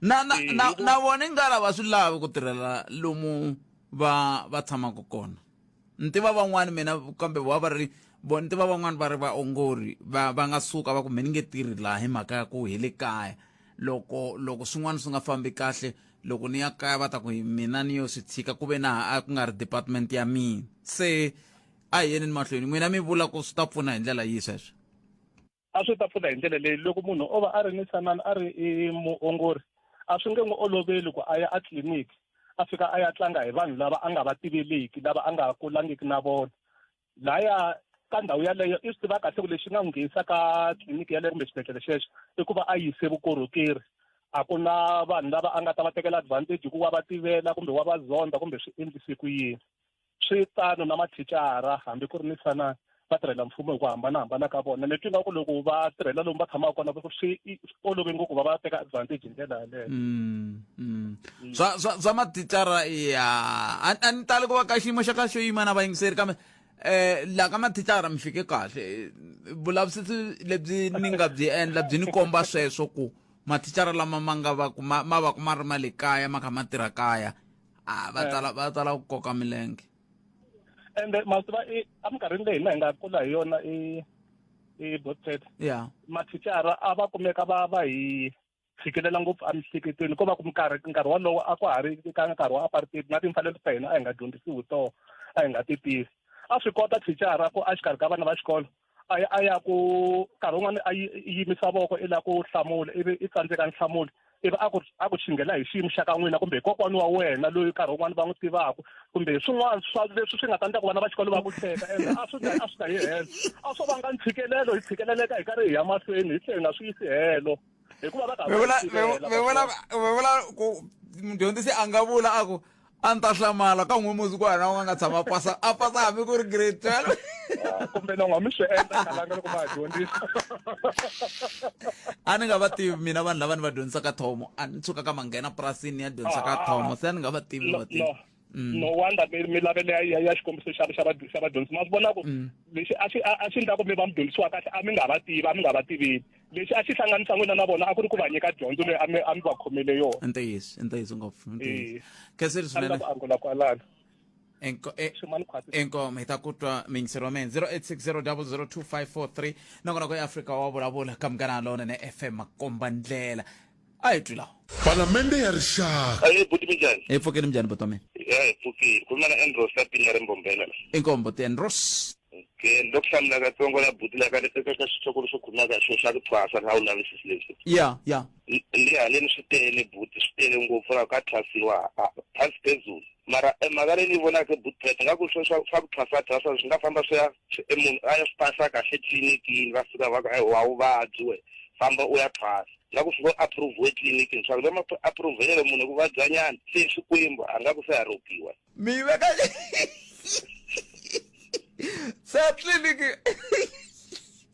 na na eh, na, na vona i nga lava swi lavi ku tirhela lomu va va tshamaka kona ni tiva van'wani mina kambe va va ri vo ni tiva van'wani va ri vaongori va va nga suka va ku mi ni nge tirhi laha hi mhaka ya ku hi le kaya loko loko swin'wana swi nga fambi kahle loko ni ya kaya va ta ku mina ni yo swi tshika ku ve na a ku nga ri department ya mina se a hi yeni ni mahlweni n'wina mi vula ku swi ta pfuna hi ndlela yihi sweswo a swi ta pfuna hi ndlela leyi loko munhu o va a ri ni sanani a ri i muongori a swi nge n'wi oloveli ku a ya a tliliniki a fika a ya tlanga hi vanhu lava a nga va tiveliki lava a nga kulangiki na vona laya ka ndhawu yaleyo i swi tiva kahle ku lexi nga n'wi nghenisa ka tliliniki yaleyo kumbe xibedhlele xexo i ku va a yise vukorhokeri a ku na vanhu lava a nga ta va tekela advantage hikuva va tivela kumbe wa va zonda kumbe swi endlise ku yini swi tano na mathicara hambi ku ri ni sanani va tirhela mfumo hi ku hambanahambana ka vona ni twi nga ku loko va tirhela lomu va tshamaka kona swi olove ngopfu va va teka advantage hi ndlela yaleyo mm, mm. mm. swa swa swa mathicara ya a ni tali ku va ka xiyimo xa kahle xo yima na vayingiseri kambe eh la ka mathicara mi fike kahle vulavisisi lebyi ni nga byi endla byi ni komba sweswo ku mathicara lama ma nga va ma va ku ma ri ma le kaya ma kha ma tirha kaya a va eh. tsala va tsala ku koka milenge ende ma swi tiva i- eminkarhini leyi hina hi nga kula hi yona i i botset ya mathicara a va kumeka va va hi tshikelela ngopfu emihleketweni ko va ku nkarhi nkarhi wolowo a ku ha ri ka nkarhi wa apartheid na timfanelo ta hina a hi nga dyondzisiwi toho a hi nga ti tivi a swi kota thicara ku a xikarhi ka vana va xikolo a ya a ya ku nkarhi wun'wana a yi yi yimisa voko i la ku hlamula ivi i tsandzeka nhlamulo ivi a ku a ku xinghela hi xiyimo xa ka n'wina kumbe hi kokwana wa wena loyi nkarhi wun'wana va n'wi tivaka kumbe hi swin'wana swa leswi swi nga ta endla ku vana va xikolo va ku hleka ende a swi a swi ta yi helo a swo vanga ntshikelelo hi tshikeleleka hi karhi hi ya mahlweni hi tlhe hi nga swi yisi helo hikuva va karhi va swi tivela, va vula va vula ku mdyondzisi a nga vula a ku a ni ta hlamala ka n'we muzi ku hana u nga nga tshama pasa a pasa hambi ku ri grade twelve ah, kumbe na n'wa mi swi endla kalanga loko va ha dyondzisa a ni nga va tivi mina vanhu lava ni va dyondzisaka thomo a ni tshuka ka manghena purasini ya dyondzisa ka ah, thomo se a ni nga va tivi ni va tivi Mm. no wonder milavelo ya ya xikombiso xa xa xa vadyondzisi ma swi vona ku mm. lexi a xi a xi endla ku mi va mi dyondzisiwa kahle a mi nga va tivi a mi nga va tiveli lexi a xi hlanganisa n'wina na vona a ku ri ku va nyika dyondzo leyi a mi a mi va khomele yona ntiyiso ntiyiso ngopfu ntiyiso eh. khenseri swinene ku angula kwalano inkomo hi ta ku twa mingisero wa mina 0860002543 nakona ku eafrika wa vulavula ka munghana lona ne fm makombandlela a hi twi lawa palamende ya rixaka Ayi buti minjani? hi pfukeni minjhani buti wa mina Ya hi pfukile. Khuluma na Andros ka pini ya Rimbombela la. inkombo tienros Okay, ni lo ku hlamula katsongo la buti la ka eka ka xitshokolo xo khuluma ka xo xa ku thwasa na u lavisisi leswi. ya ya Ni ni haleni swi tele buti swi tele ngopfu la ka thwasiwa ah, phansi phezulu. Mara eh, mhaka leyi ni yi vonaka buti Pet nga ku swo swa swa ku thwasa thwasa swi nga famba swi ya swi- eh, munhu a ya swi pasa kahle tlilinikiini va fika va ku eh, wa vuvabyi we famba u ya thwasa. Nga ku swi ngo approve etliliniki ni swa ku lama approvelelo munhu ku vabya nyana se Xikwembu a nga ku se ha ropiwa. Mi veka se tliliniki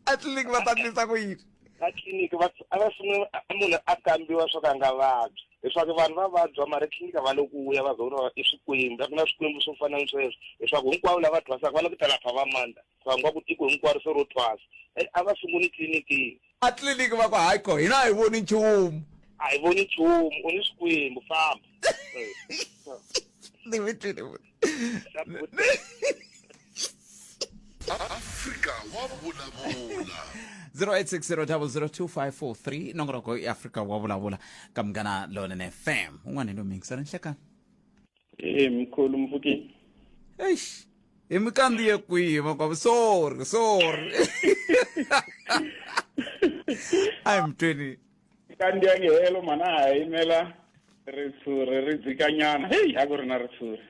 atliliniki va ta ndlisa ku yini? Va tliliniki va a va sungula munhu a kambiwa swa ku a nga vabyi hi swa ku vanhu va vabya mara etliliniki a va le ku ya va za vona va i Swikwembu a ku na Swikwembu swo fana ni sweswo hi swa ku hinkwavo lava thwasaka va le ku ta lapha va mandza. khangwa ku tiko hinkwaro se ro thwasa and a va sunguni tlilinikiyi a tliliniki va ku hayi ko hina a hi voni nchumu a hi voni nchumu u ni swikwembu famba ni mi twile afrika wa vulavula 0860002543 nongonoko i afrika wa vulavula ka munghana lonene fam un'wana hi lomingisa ni nhlekani Eh mkhulu mfukini. eish hi mi kandziye kwihi makwavo sorry sorry ayi mtweni Kandi ya ngehelo mana ha yimela ritshuri ri dzikanyana. Hey a ku ri na ritshuri.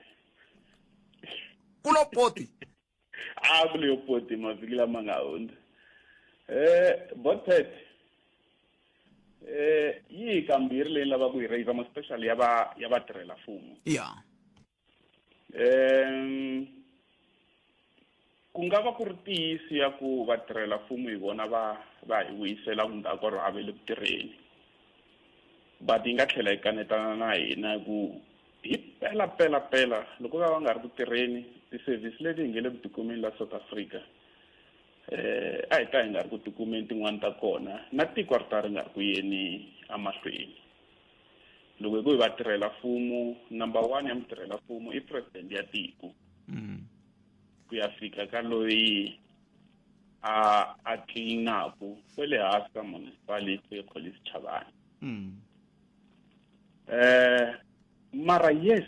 ku lo poti a ku leyo poti mavhiki lama nga hundza um botpet um yi hi kambirhi leyi lava ku yi raiser ma special ya va ya vatirhela mfumo ya um ku nga va ku ri tiyisi ya ku vatirhela mfumo hi vona va va hi vuyisela ku ndzhaku ro hava le ku tirheni but yi nga tlhela yi kanetana na hina hi ku Hi pela pela pela loko va va nga ri ku tirheni tisevhisi leti hi nge le ku tikumeni la South Africa eh a hi ta hi nga ri ku tikumeni tin'wani ta kona na tiko ri ta ri nga ri ku yeni amahlweni loko hi ku hi vatirhela mfumo number one ya mutirhela mfumo i president ya tiko mm. ku ya fika ka loyi a a tlilinaku kwele hansi ka municipality Collins Chavani mm. eh mara yes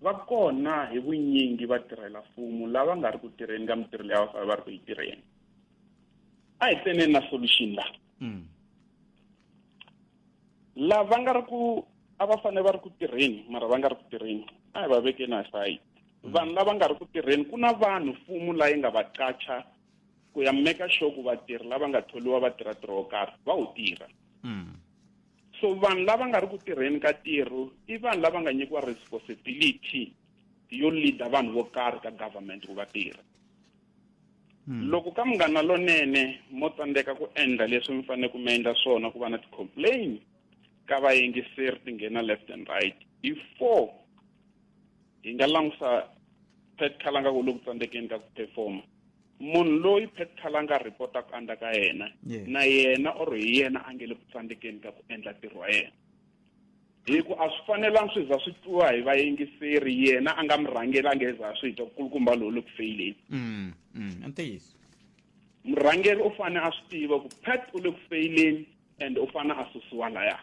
va kona hi vunyingi va tirhela mfumo lava nga ri ku tirheni ka mitirho leyi va va ri ku yi tirheni a hi teneni na solution la mm. lava nga ri ku a va fanele va ri ku tirheni mara va nga ri ku tirheni a hi va vekeni aside mm. vanhu lava nga ri ku tirheni ku na vanhu mfumo layi nga va qacha ku ya meka sure ku vatirhi lava nga tholiwa va tirha tirho wo karhi va wu tirha mm. So vanhu lava nga ri ku tirheni ka tirho i vanhu lava nga nyikiwa responsibility yo leader vanhu vo karhi ka government ku va tirha hmm. loko ka munghana lonene mo tsandzeka ku endla leswi mi fanele ku mi endla swona ku va na ti-complain ka vayingiseri ti nghena left and right before hi nga langusa pet khalanga ku loku tsandzekeni ka ku performa munhu loyi pet khalanga a rhipota ku andza ka yena na yena or hi yena a nge le ku tsandzekeni ka ku endla ntirho wa yena hi ku a swi fanelanga swi za swi twiwa hi vayingiseri yena a nga mi rhangeli a nge za swi twa kulukumba lowu le ku feyileni mm, mm, ntiyiso murhangeri u fanele a swi tiva ku pat u le ku feyileni and u fana a susiwa laya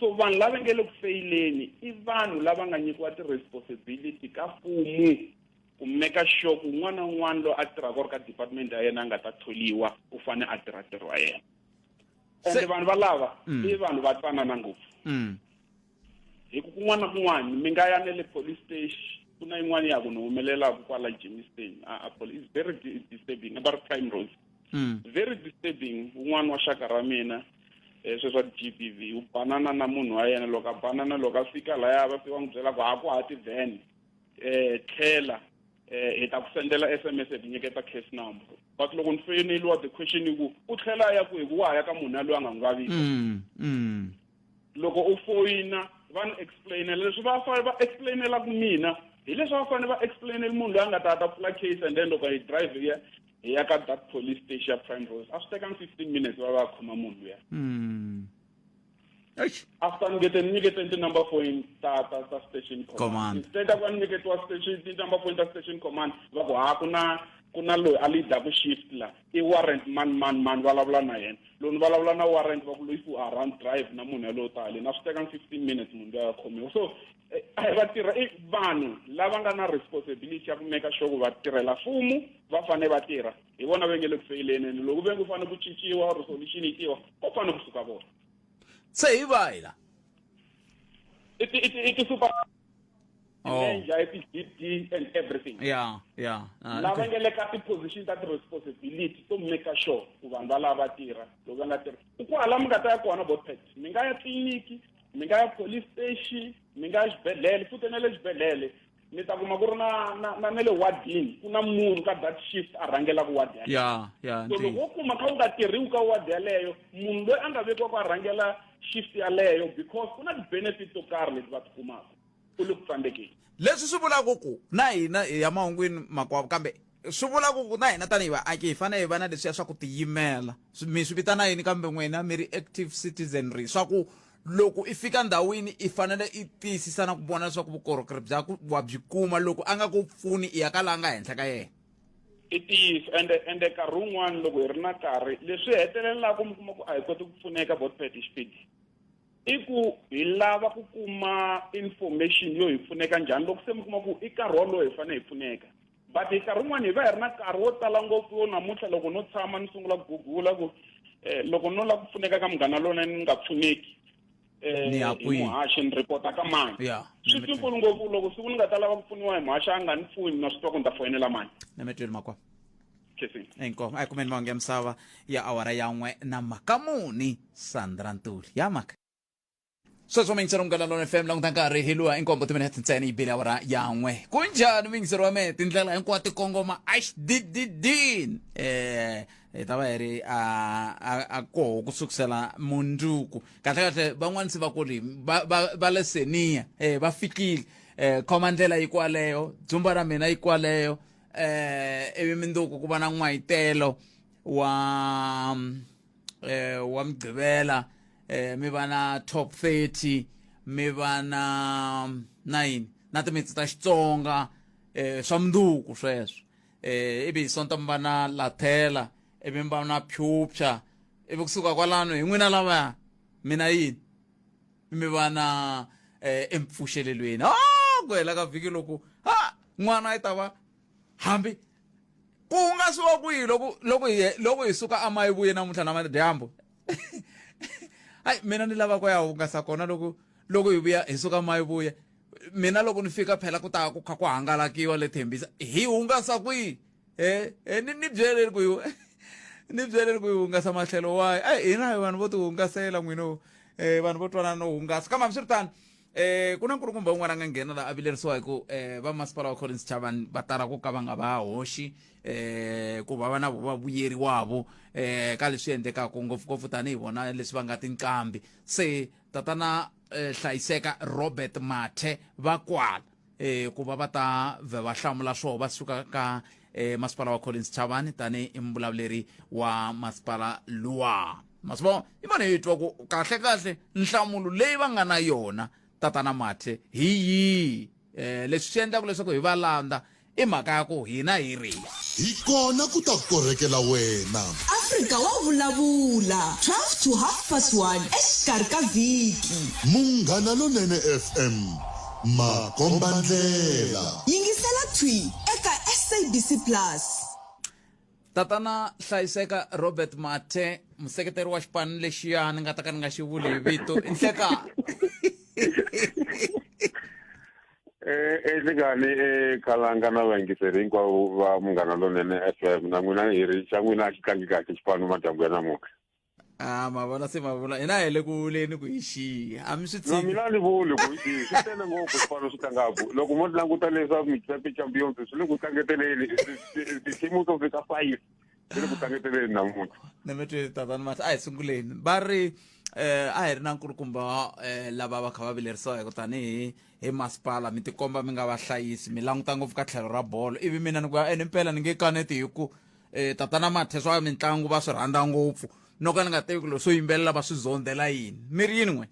so vanhu lava nge le ku feyileni i vanhu lava nga nyikiwa ti-responsibility ka mfumu ku meka sure ku un'wana na un'wana loyi a tirhaka or ka department ya yena a nga ta tholiwa u fane a tirha ntirho wa yena and vanhu valava mm. i vanhu va twanana ngopfu mm. hi ku kun'wana na kun'wana mi nga ya ne le police station ku na yin'wana ya ku ni humelelaka kwala Germiston a a pole is very disturbing about prime road mm. very disturbing un'wana wa xaka ra mina eh, sweswi a ti GBV u banana na munhu wa yena loko a banana loko a fika laya va fika n'wi byela ku ha ku ha ti van um eh, tlhela eh, hi ta ku sendela s m s hi nyiketa case number but loko ni foyineliwa the question i ku u tlhela a ya ku hi ku wa ha ya ka munhu yaloyi a nga n'wi vavisa mm, mm. loko u foyina va ni explainela leswi va fanele va explainelaku mina hi leswi va fanele va explainela munhu loyi a nga ta ta pfula case and then loko hi drive hi ya hi ya ka that police station ya prime rose a swi tekanga fifteen minutes va va khoma munhu luya hmm. after ni ngete ni nyikete ti-number point ta ta ta station command instead a va ni nyiketiwa station ti-number point ta station command va ku ha ku na ku na loyi a leadaku shift la i warrant mani mani mani vulavula na yena loko ni vulavula na warrant va ku loyi ku a run drive na munhu yalowo tale na swi teka ni fifteen minutes munhu loyi a khomiwa so eh, eh, vatirha i vanhu lava nga na responsibility ya ku meka sure ku vatirhela mfumo va fanele va tirha hi vona va nge le ku feyileni ene loko ve nge fanele ku cinciwa or solution yi tiwa ko fanele kusuka vona se hi vahi la i ti-super Oh. And then GD and everything. Yeah, yeah. Uh, lava nga le ka ti-position ta ti-responsibility to maker sure ku vanhu va lava tirha loko va nga tirhi i ku hala mi nga ta ya kona botpet mi nga ya tliliniki mi nga ya police station mi nga ya xibedhlele futhi na le xibedhlele mi ta kuma ku ri na na na na le wadini ku na munhu ka that shift a rhangelaka wadi ya ya so loko wo kuma kha u nga tirhiwi ka wadi yaleyo munhu loyi a nga vekiwaka a rhangela shift yaleyo because ku na ti-benefit to karhi leti va ti kumaka u le ku tsandzekeni leswi swi vulaka ku na hina hi ya mahungwini makwavo kambe swi vulaka ku na hina tanihi vaaki hi fanele hi va na leswiya swa ku tiyimela mi swi vitana yini kambe n'wina mi ri active citizenry swa ku loko i fika ndhawini i fanele i tiyisisa na ku vona leswaku vukorhokeri bya ku wa byi kuma loko a nga ku pfuni i ya ka la nga henhla ka yena i ntiyiso ende ende nkarhi wun'wana loko hi ri na nkarhi leswi hetelelaka mi kuma ku a hi koti ku pfuneka botpet hi xipidi i ku hi lava ku kuma information yo hi pfuneka njhani loko se mi kuma ku i nkarhi wolowo hi fanele hi pfuneka but hi nkarhi wun'wana hi va hi ri na nkarhi wo tala ngopfu yo namuntlha loko no tshama ni sungula ku gugula ku um loko no lava ku pfuneka ka munghana lowunene ni nga pfuneki eh, ni ya kwihi muhaxi ni ripota ka mani ya swi tikulu ngopfu loko siku ni nga ta lava ku pfuniwa hi muhaxi a nga ni pfuni na swi twa ku ni ta foyinela mani na mi tweli makwa inkomo a yi kumeni mahungu ya misava ya awara yan'we na mhaka muni sandra ntuli ya mhaka sweswo mingisero munghana lona fm languta nkarhi hi luwa inkombo timinete ntsena yi bile awara yan'we ku njhani mingisero wa mehe tindlela hinkwato ti kongoma axdididin um eh, hi ta va hi ri a a- a koho ku sukusela munduku kahlekahle van'wani se va kuli va- va va le seniya um va fikile um khoma ndlela yi kwaleyo dzumba ra mina yi kwaleyo um ivi minduku ku va na n'wayitelo wa eh wa mgqibela eh mi va na top 30 mi va na na yini na timitsi ta Xitsonga eh swa mnduku sweswo eh ivi hi sonta mi va na lathela ivi mi va na pyupya ivi kusuka kwalano hi n'wina lavaya mina yini mi va na eh, empfuxelelweni ha ku hela ka vhiki loko ha n'wana i ta va hambi ku nga swi va ku yi loko loko hi loko hi suka amayi vuye namuntlha na madyambu hayi mina ni lava ku ya hungasa kona loko loko hi vuya hi suka mayi vuya mina loko ni fika phela ku ta ku kha ku hangalakiwa le thembisa hi hungasa kwihi e e ni ni byeleri ku hi ni byeleri ku hi hungasa mahlelo wayi a hina hi vanhu vo ti hungasela n'wina um vanhu vo twanana no hungasa kambe hambiswiritano um ku na nkulukumba un'wana a nga nghena la a vilerisiwa hi ku um vamasipala wa collins chavani va tala ku ka va nga va hoxi um ku va va na va vuyeriwavo um ka leswi endlekaka ngopfungopfu tanihi vona leswi va nga tinqambi se tatana eh, hlayiseka robert mathe va kwala eh, ku va va ta vhe va hlamula swoho va suka ka eh, masipala wa collins chavani tanihi muvulavuleri wa masipala luwa ma swi vona i vona hi twa ku kahlekahle nhlamulo leyi va nga na yona tatana mathe hi yihi um leswi swi endlaka leswaku hi va landza i mhaka ya ku hina hi ri hi kona ku ta korhekela wena afrika wa vulavula 12 to half past 1 exikarhi ka vhiki munghana lonene fm makombandlela yingisela twi eka sabc plus tatana hlayiseka robert mathe museketeri wa xipano lexiya ni nga ta ka ni nga xi vuli hi vito i nhleka enhlekani eh, eh, ekhalanga eh, na vayingiseri hinkwavo va munghana lonene f m na n'wina hi ri xa n'wina a xi tlangi kahle xipano madyambu ya namuntlha a ma vona se ma vula hina hi le ku vuleni ku hi xiya a mi swi na tshiki mina ni vuli ku i swi tele ngopfu swipano swi tlangaku loko mo languta leswa mixape champions swi le ku tlangeteleni ti-team to fika five swi le ku tlangeteleni namuntlha ni mi twi tatani mahla a hi sunguleni va ri eh a hi ri na nkulukumba eh lava va kha va vilerisiwa hi ku tanihi hi masipala mi tikomba mi nga vahlayisi mi languta ngopfu ka tlhelo ra bolo ivi mina ni ku ya ene mpela ni nge kaneti hi ku e, tatana mathe swa mitlangu va swi rhandza ngopfu no ka ni nga tivi ku leswo yimbelela va swi zondzela yini mi ri yini n'we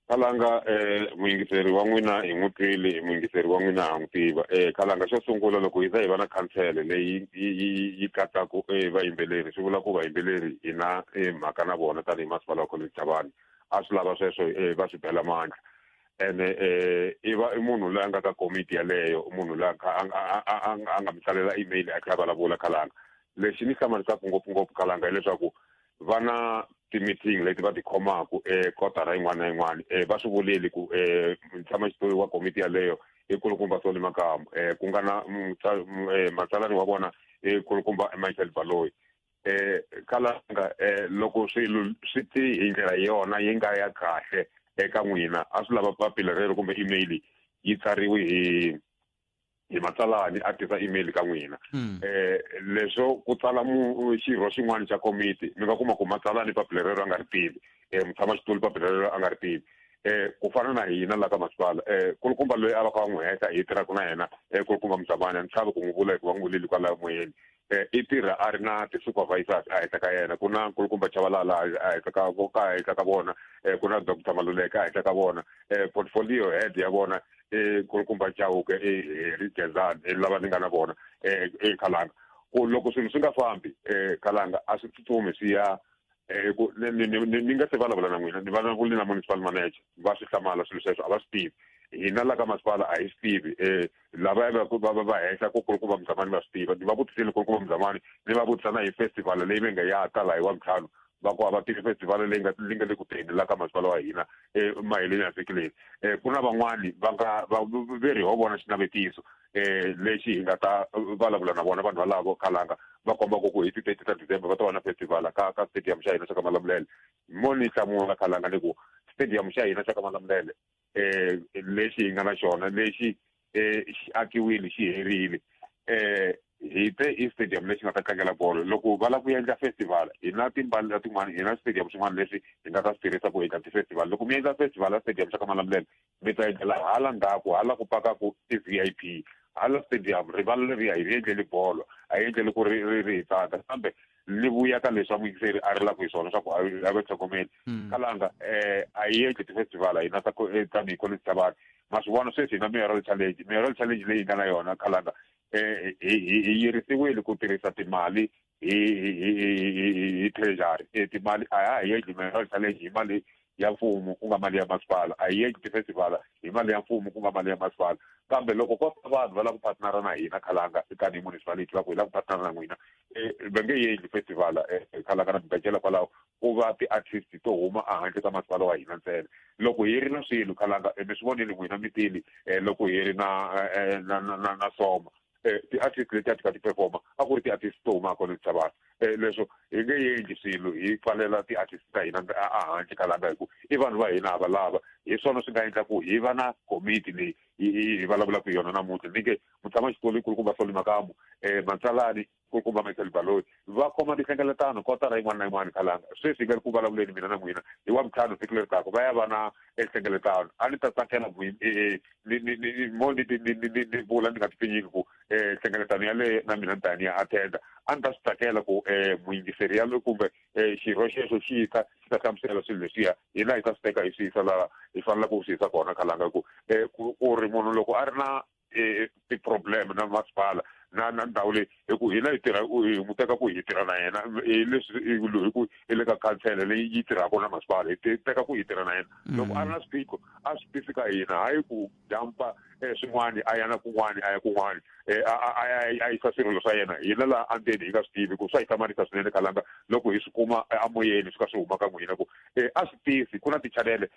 kalanga um muyingiseri wa n'wina hi n'wi twile hi muyingiseri wa n'wina ha n'wi tiva um kalanga xo sungula loko hi za hi va na khansele leyi yi yi katsaka um vayimbeleri swi vula ku vayimbeleri hi na mhaka na vona tanihi masipala wa college javani a swi lava sweswo um va swi bela mandla ene um i va i munhu loyi a nga ka komiti yaleyo munhu loyi a nga mi tsalela email a kha a vulavula khalanga lexi ni hlamarisaka ngopfungopfu khalanga hileswaku va na ti-meeting leti va ti khomaka ekotara yin'wana na yin'wana um va swi vuleli ku um tshama xitoli wa komiti yaleyo i kulukumba soli makamu um ku nga na matsalani wa vona i kulukumba michael baloyi eh kalanga eh loko swilo swi ti hi ndlela yona yi nga ya kahle eka n'wina a swi lava papila rero kumbe email yi tsariwe hi hi matsalani a tisa email ka n'wina hmm. eh leswo ku tsala mu xirho xin'wana xa komiti mi nga kuma ku matsalani papila rero a nga ri tivi eh mutshama xitulu papila rero a nga ri tivi eh ku fana na hina la ka masipala eh kulukumba loyi a va ka va n'wi heta hi tirhaka na yena eh kulukumba musamani a ni chavi ku n'wi vula hikuva n'wi vuleli kwalayo moyeni eh, i tirha a ri na ti-supervisors a henhla ka yena ku na nkulukumba chavalala a henhla ka ka henhla ka vona um ku na doctor maluleke a henhla ka vona um portfolio head ya vona i nkulukumba chauke i heri gezan i lava ni nga na vona um i khalanga ku loko swilo swi nga fambi um khalanga a swi tsutsumi swi ya eh, ku ni ni ni ni nga se vulavula na n'wina ni vulavule na municipal manager va swi hlamala swilo sweswo a va swi tivi hina la ka masipala a hi swi tivi um lava va va va henhla ku kulukumba muzamani va swi tiva ni va vutisile kulukumba muzamani ni va vutisa na hi festival leyi va nga ya ta laha hi wa ntlhanu va ku a va tivi festival leyi nga leyi nga le ku teni la ka masipala wa hina emaheleni ya vhiki leyi um ku na van'wani va nga va ve ri ho vona xinavetiso eh lexi hi nga ta vulavula na vona vanhu valavo khalanga va komba ku ku hi ti-thirty ta december va ta va na festival ka ka stadium xa hina xa ka malamulele mo ni hlamula khalanga ni ku stadium xa hina xa ka malamulele eh lexi hi nga na xona lexi eh xi akiwile xi herile eh hi te i stadium lexi nga ta tlangela bolo loko va lava ku endla festival hi na timbali la tin'wana hi na stadium xin'wana leswi hi nga ta swi tirhisa ku endla ti-festival loko mi endla festival ya stadium xa ka malamulele mi ta endlela hala ndzhaku hala ku pakaku ti-vip hala stadium rivala leriya hi ri endleli bolo a yi endleli ku ri ri ri hi tsaka kambe li vuya ka leswi amuyingiseri a ri laku hi swona swa ku a ve tlhogomeli hmm. kalanga um a yi endli ti-festival a hina eh, tanihi college ta vanhu ma swi vona sweswi hina mayoral challenge mayoral challenge leyi nga na yona kalanga um hi yirisiwile ku tirhisa timali hi hi hi hi- hi- hi- hi treasury e timali a ha hi endli mineral challenge hi mali ya mfumo ku nga mali ya masipala a hi endli tifestival hi mali ya mfumo ku nga mali ya masipala kambe loko ko ta vanhu va lava ku partnera na hina khalanga kani hi municipality va ku hi lava ku partnera na n'wina eh, va nge yi endli festival eh, eh, khalanga na mibecela kwalaho ku va ti-artist to huma ehandle ka masipala wa hina ntsena loko hi ri na swilo khalanga eh, mi swi vonile n'wina mi tile eh, loko hi ri na eh, eh, na na na- na soma eh, ti-artist leti a ti ka ti performa a ku ri ti-artist to huma kona misavana um eh, leswo hi nge endli swilo hi pfalela ti-artist ta hina ahandle ka langa hi ku i vanhu va hina hava lava hi swona swi nga endla ku hi va na komiti leyi hi vulavulaka hi yona namuntlha ni nge mutshama xitolo ikulukumba soli makamu um eh, matsalani kulukumba michael baloyi va khoma tinhlengeletano kotara yin'wana na yin'wana khalanga sweswi nga ri ku vulavuleni mina na n'wina hi wa vutlhanu siku leri taka va ya va na enhlengeletano a ni ta tsakela e, e, e, mo ni vula ni nga tipfinyiki ku nhlengeletano yaleyo na mina ni ta ni ya attenda a ni ta swi tsakela ku um muyingiseri yaloyo kumbe um xirho xexo xi ta xi ta hlamusela swilo leswiya hina hi ta swi teka hi swi yisa laha hi faneleke ku swi yisa kona khalanga ku um ku ri munhu loko a ri na e, ti-problem na masipala na na ndhawu leyi hi ku hina hi tirha hi n'wi teka ku hi tirha na yena hi leswi hi ku i le ka khansela leyi yi tirhaka na masipala hi teka ku hi tirha na yena mm. loko a ri na swiphiqo a swi tisi ka hina hayi ku jampa eh, swin'wani a ya na kun'wani a ya kun'wani eh, a yisa swirilo swa yena hina laha andeni hi nga swi tivi ku swa hi hlamarisa swinene khalanga loko hi swi kuma eh, amoyeni swi ka swi huma ka n'wina ku a swi tisi ku na tichanele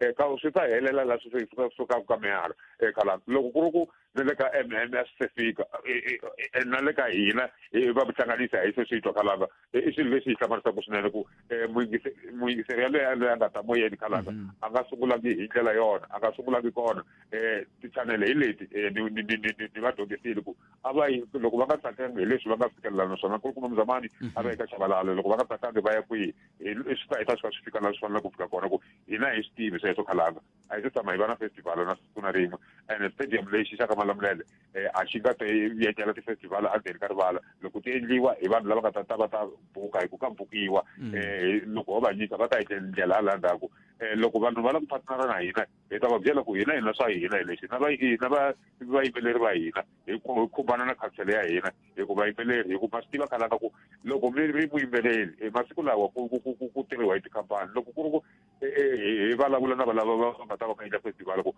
eka swi ta helela la swi fika sukaka ka mihalo eka la loko ku ri ku ni le ka mm a swi se fika na le ka hina va ku hlanganisa hi se swi twa khalanga i swilo leswi hi hlamarisaka swinene ku muyingiseri yaloye yaloye a nga ta moyeni khalanga mhm. a nga sungulangi hi ndlela yona a nga sungulangi kona um tichanele hi leti ni va dyondzisile ku a va yi loko va nga tsakangi hi leswi va nga fikelela naswona ku ri kuma muzamani mhm. a va eka chavalalo loko va nga tsakangi va ya kwihi hi swi ta hi ta swi fika laha swi faneleke ku fika kona ku hina hi swi tivi sweswo khalanga a hi se tshama hi va na festival na siku na rin'we and stadium lexi xa ka malamulele eh, a xi nga te yetela ti-festival endzeni ka rivala loko ti endliwa hi vanhu lava nga ta ta va ta buka hi ku ka bukiwa mm. eh, loko ho va nyika va ta etlela ndlela hala ndzhaku um eh, loko vanhu va la ku phatinana na hina hi ta va byela ku hina hina swa hina hi lexi na vayimbeleri va hina hi khumbana na khansele ya hina hi ku vayimbeleri hi ku ma swi tiva khana ka ku loko mi ri vuyimbeleri e masiku lawa ku ku ku ku tirhiwa hi tikhampani loko ku ri ku e, e, hi vulavula na valava va nga ta va kayita festival ku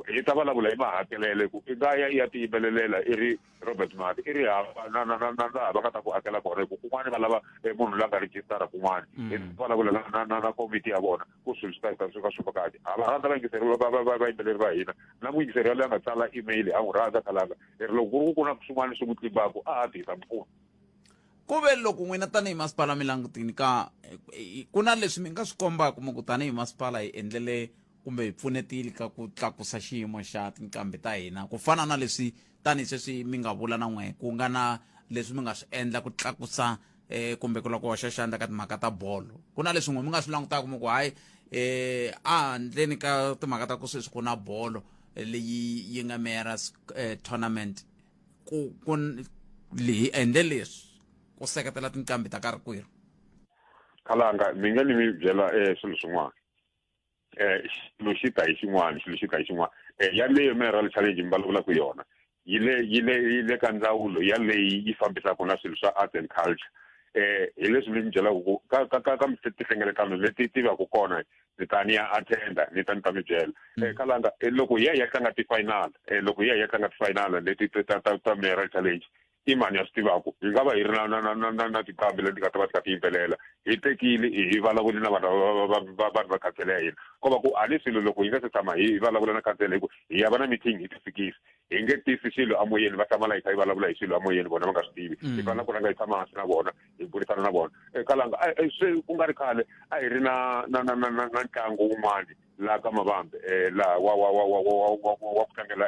hi ta vulavula hi mahakelele ku i nga ya i ya tiyimbelelela i ri robert mati i ri hava na na na na laha va nga ta ku hakela kona hi ku kun'wana va lava e, munhu la nga rejistara kun'wana mm. hi vulavula na na na komiti ya vona ku swilo swi ta heta swi va swi vukati a va rhandza vayingiseri vayimbeleri va hina na muyingiseri yaloye a nga tsala email a n'wi rhandza khalanga leri loko ku ri ku ku na swin'wana swi n'wi tlimbaku a ha ti hisa mpfuna ku ve loko n'wina tanihi masipala mi langutini ka ku na leswi mi nga swi kombaka mi ku tanihi masipala hi endlele kumbe hi pfunetile ka ku tlakusa xiyimo xa tinqambi ta hina ku fana na leswi tanihi sweswi mi nga vula na n'we ku nga na leswi mi nga swi endla ku tlakusa eh kumbe ku loko hoxa xandla ka timhaka ta bolo ku na leswin'we mi nga swi langutaka mi ku hayi eh a handleni ka timhaka ta ku sweswi ku na bolo eh, leyi yi nga mera eh, tournament ku ku leyi endle leswi ku seketela tinqambi ta karhi kwerhu kalanga mi nga ni mi byela eh swilo swin'wana eh xilo xi ta hi xin'wana xilo xi ta hi xin'wana eh yaleyo mineral challenge mi vulavulaka yona yi le yi le yi le ka ndzawulo yaleyi yi fambisaka na swilo swa arts and culture eh hi leswi mi ni byelaka ku ka ka ka ka tihlengeletano leti ti va ku kona ni ta ni ya attenda ni ta ni ta mi byela mm. eh kalanga eh, loko hi ya hi ya tlanga ti-final eh loko hi ya hi ya tlanga ti-final leti ta ta ta mineral challenge i mani a swi tivaku yi nga va yi ri na na na na na tiqambi leti nga ta va ti kha ti yimbelela hi tekile hi vulavuli na vanhu vanhu va khansele ya hina ko va ku a ni swilo loko hi nga se tshama hi vulavula na khansele hi ku hi ya va na meeting hi ti fikisi hi nge tisi xilo amoyeni va hlamala hi kha hi vulavula hi xilo amoyeni vona va nga swi tivi hi fanele ku rhanga hi tshama hansi na vona hi burisana na vona ekalanga swi ku nga ri khale a hi ri na na na na na ntlangu wun'wani laha ka mavambe um laha wa wa wa wa wa wa wa ku tlangela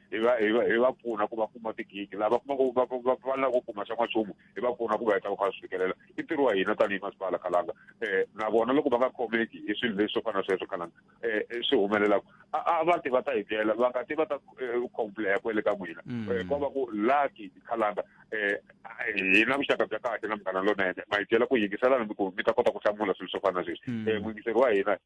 hi va hi va hi va pfuna ku va kuma tigigi lava kumaku va va va lava ku kuma xa n'wanchumu hi va pfuna ku va heta va kha va swi fikelela i ntirho wa hina tanihi masipala khalanga um na vona loko va nga khomeki hi swilo leswi swo fana na sweswo khalanga um swi humelelaka a a va ti va ta hi byela va nga ti va ta complain ku le ka n'wina ko va ku lucky khalanga um hi na vuxaka bya kahle na munghana lonene ma hi byela ku yingiselana mi ku mi ta kota ku hlamula swilo swo fana na sweswi um mwingiseri wa hina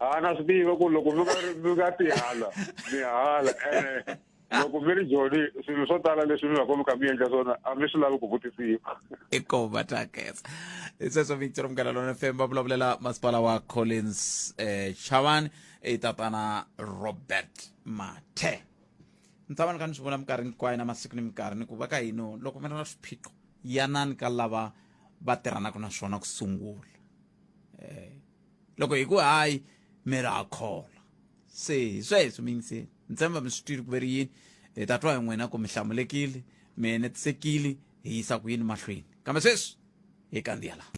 ha na swi tiva ku loko mi nga mi nga tihala mi hala ene loko mi ri joni swilo swo tala leswi mi va komi ka mi endla swona a mi swi lavi ku vutisiwa i ko va ta khetsa i sweswo victor mugala lona fm va vulavulela masipala wa collins eh, chavan i tatana robert mathe ni tshama ni kha ni swi vona minkarhi hinkwayo na masiku ni minkarhi ni ku va ka hino loko mi ri na swiphiqo yanani ka lava va tirhanaka na swona ku sungula um loko hi ku hayi mi ra ha khola se hi sweswo mi yingiseni ni tshemba mi swi twile ku ve ri yini hi ta twa hi n'wina ku mi hlamulekile mi enetisekile hi yisa ku yini mahlweni kambe sweswi hi kandziya laha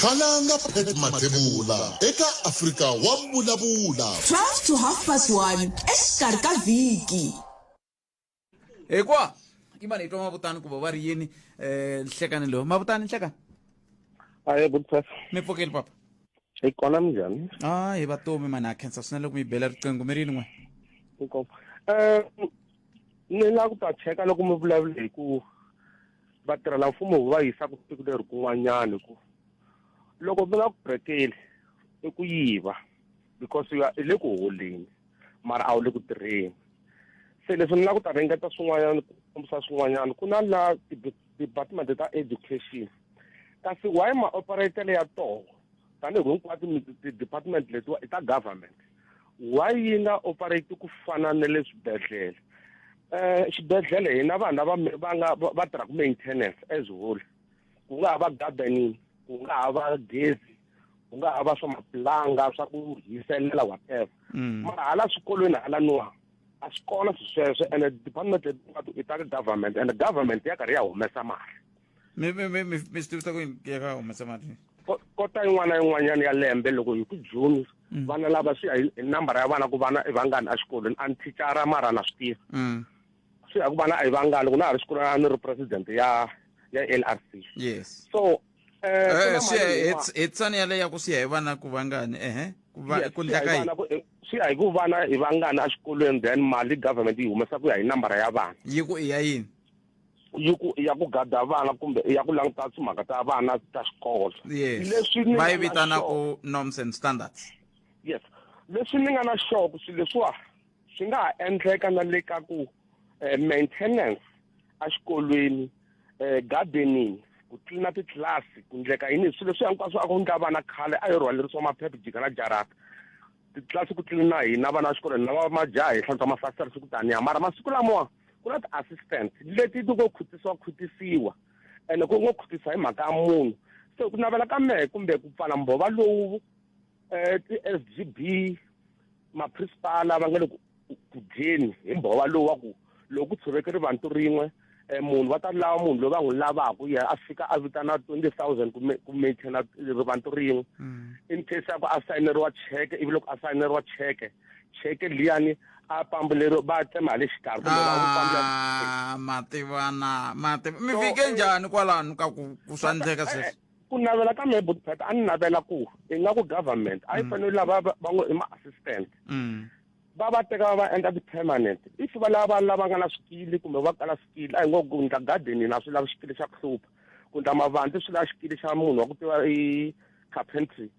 Khalanga Pat Mathebula eka Afrika wa Vulavula. 12 to half past 1 exikarhi ka vhiki. hikuva i mani hi twa mavutani kumbe va ri yini um nhlekani lowu mavutani nhlekani aye good papa mi pfukile papa hi kona minjhani a hi vatomi mani ha khensa swinene loko mi bela riqingho mi ri yini n'we um eh, ni lava ku ta cheka loko mi vulavula hi ku vatirhela mfumo va yisaka siku leri kun'wanyana hi ku loko mi nga ku brekeli i ku yiva because ya i le ku holeni mara a wu le ku tirheni se leswi ni la ku ta ringeta swin'wanyana ku kombisa swin'wanyana ku na la department ta education kasi why ma operatele ya toho tanihi ku hinkwato ti-department letiwa i ta government why yi nga operate ku fana na le swibedhlele um xibedhlele hina vanhu lava va nga va tirhaka maintenance as whole ku nga ha va gardening ku nga ha va gezi ku nga ha va swa mapulanga swa ku hiselela whatever mm. mara hala swikolweni hala nuwa a swi kona swi sweswo and department letin'watu i ta ka government and government ya karhi ya humesa mali mi mi mi mi swi tivisa ku ya ka humesa mali kota yin'wana na yin'wanyana ya lembe loko hi ku june mm. vana lava swi ya hi nambara ya vana ku vana i vangani exikolweni a ni thicara mara na swi tiva mm. swi ya ku vana a yi vangani loko na ha ri xikolweni a ni ri president ya ya l r c yes so Eh, Eh, ku na swi ya mali hi- yin'wana. hi- hi tsani yaleyo ya ku swi ya hi vana ku vangani ehe ku va Yes, ku swi ya hi ndlaka yini vana ku- eh, swi ya hi ku vana hi vangani exikolweni then mali government yi humesa ku ya hi nambara ya vana yi ku i ya yini yi ku ya ku gada vana kumbe ya ku languta timhaka ta vana ta xikolo yes leswi ni va yi nga na vitana xona- ku norms and standards yes leswi ni nga na xoko swilo leswiwa swi nga ha endleka na le ka ku eh, maintenance exikolweni eh, gardening ku tlilina titlilasi ku ndleka yini hi swilo leswi hinkwaswo a ku ndla vana khale a yi rhwalerisiwa maphephe jika na jarata titlilasi ku tlilina hina vana va xikolo hina va majaha hi hlantswa mafasitara siku taniya mara masiku lamawa ku na ti-assistant leti ti ngo khutisiwa khutisiwa ene ku ngo khutisa hi mhaka ya munhu se ku navela ka mehe kumbe ku pfala mbhova lowu eh ti-sgb maprinsipala va nga le ku dyeni hi mbhova lowu wa ku loko ku tshoveke rivantu rin'we um munhu va ta lava munhu loyi va n'wi lavaka ye a fika a vitana twenty thousand ku maintaina rivantu rin'we mm. in case ya ku a sayineriwa cheke ivi loko a sayineriwa cheke cheke liyani a pambu lero va tsema hi le xikarhi kumbe va n'wi pambula ah, mativana mativa mi fike njhani kwalano ka ku ku swa endleka sweswi ku navela ka me budpet a ni navela ku ingaku government a yi mm. fanele lava va ngo i ma-assistant mm. va va teka va va endla ti-permanent if va lava vanhu lava nga na swikili kumbe va kala swikili a hi ngo ku ndla garden na swi lavi xikili xa ku hlupha ku ndla mavandzi swi lava xikili xa munhu wa ku tiva i carpentry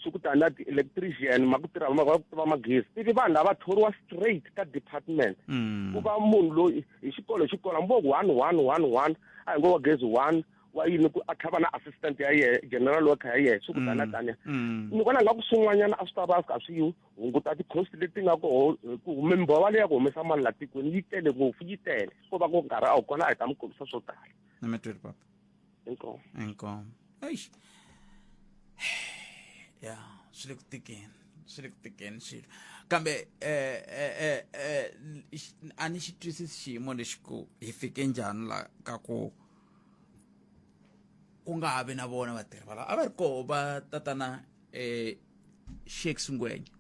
swi ku tani na ti-electrician ma ku tirha va ku tiva magezi ivi vanhu lava thoriwa straight ka department mm. ku va munhu loyi hi xikolo hi xikolo hambi vo ku one one one one a hi ngo wa gezi one wa yini ku a tlhava na assistant ya yehe general worker ya yehe swi ku tana mm, tanya mm. ni vona nga ku swin'wanyana a swi ta va swi kha swi hunguta ti-cost leti nga koho ku mimbova leyi ya ku humesa mali la tikweni yi tele ngopfu yi tele ko va ku nkarhi a wu kona a hi ta mi kombisa swo tala ni mi twile papa inkomo inkomo eish ya swi le ku tikeni swi le ku tikeni swilo kambe eh, eh, eh, a ni xi twisisi xiyimo lexi ku hi fike njhani la ka ku ku nga ha vi na vona vatirhi valava a va ri koho va tatana um eh, shakes ngwenya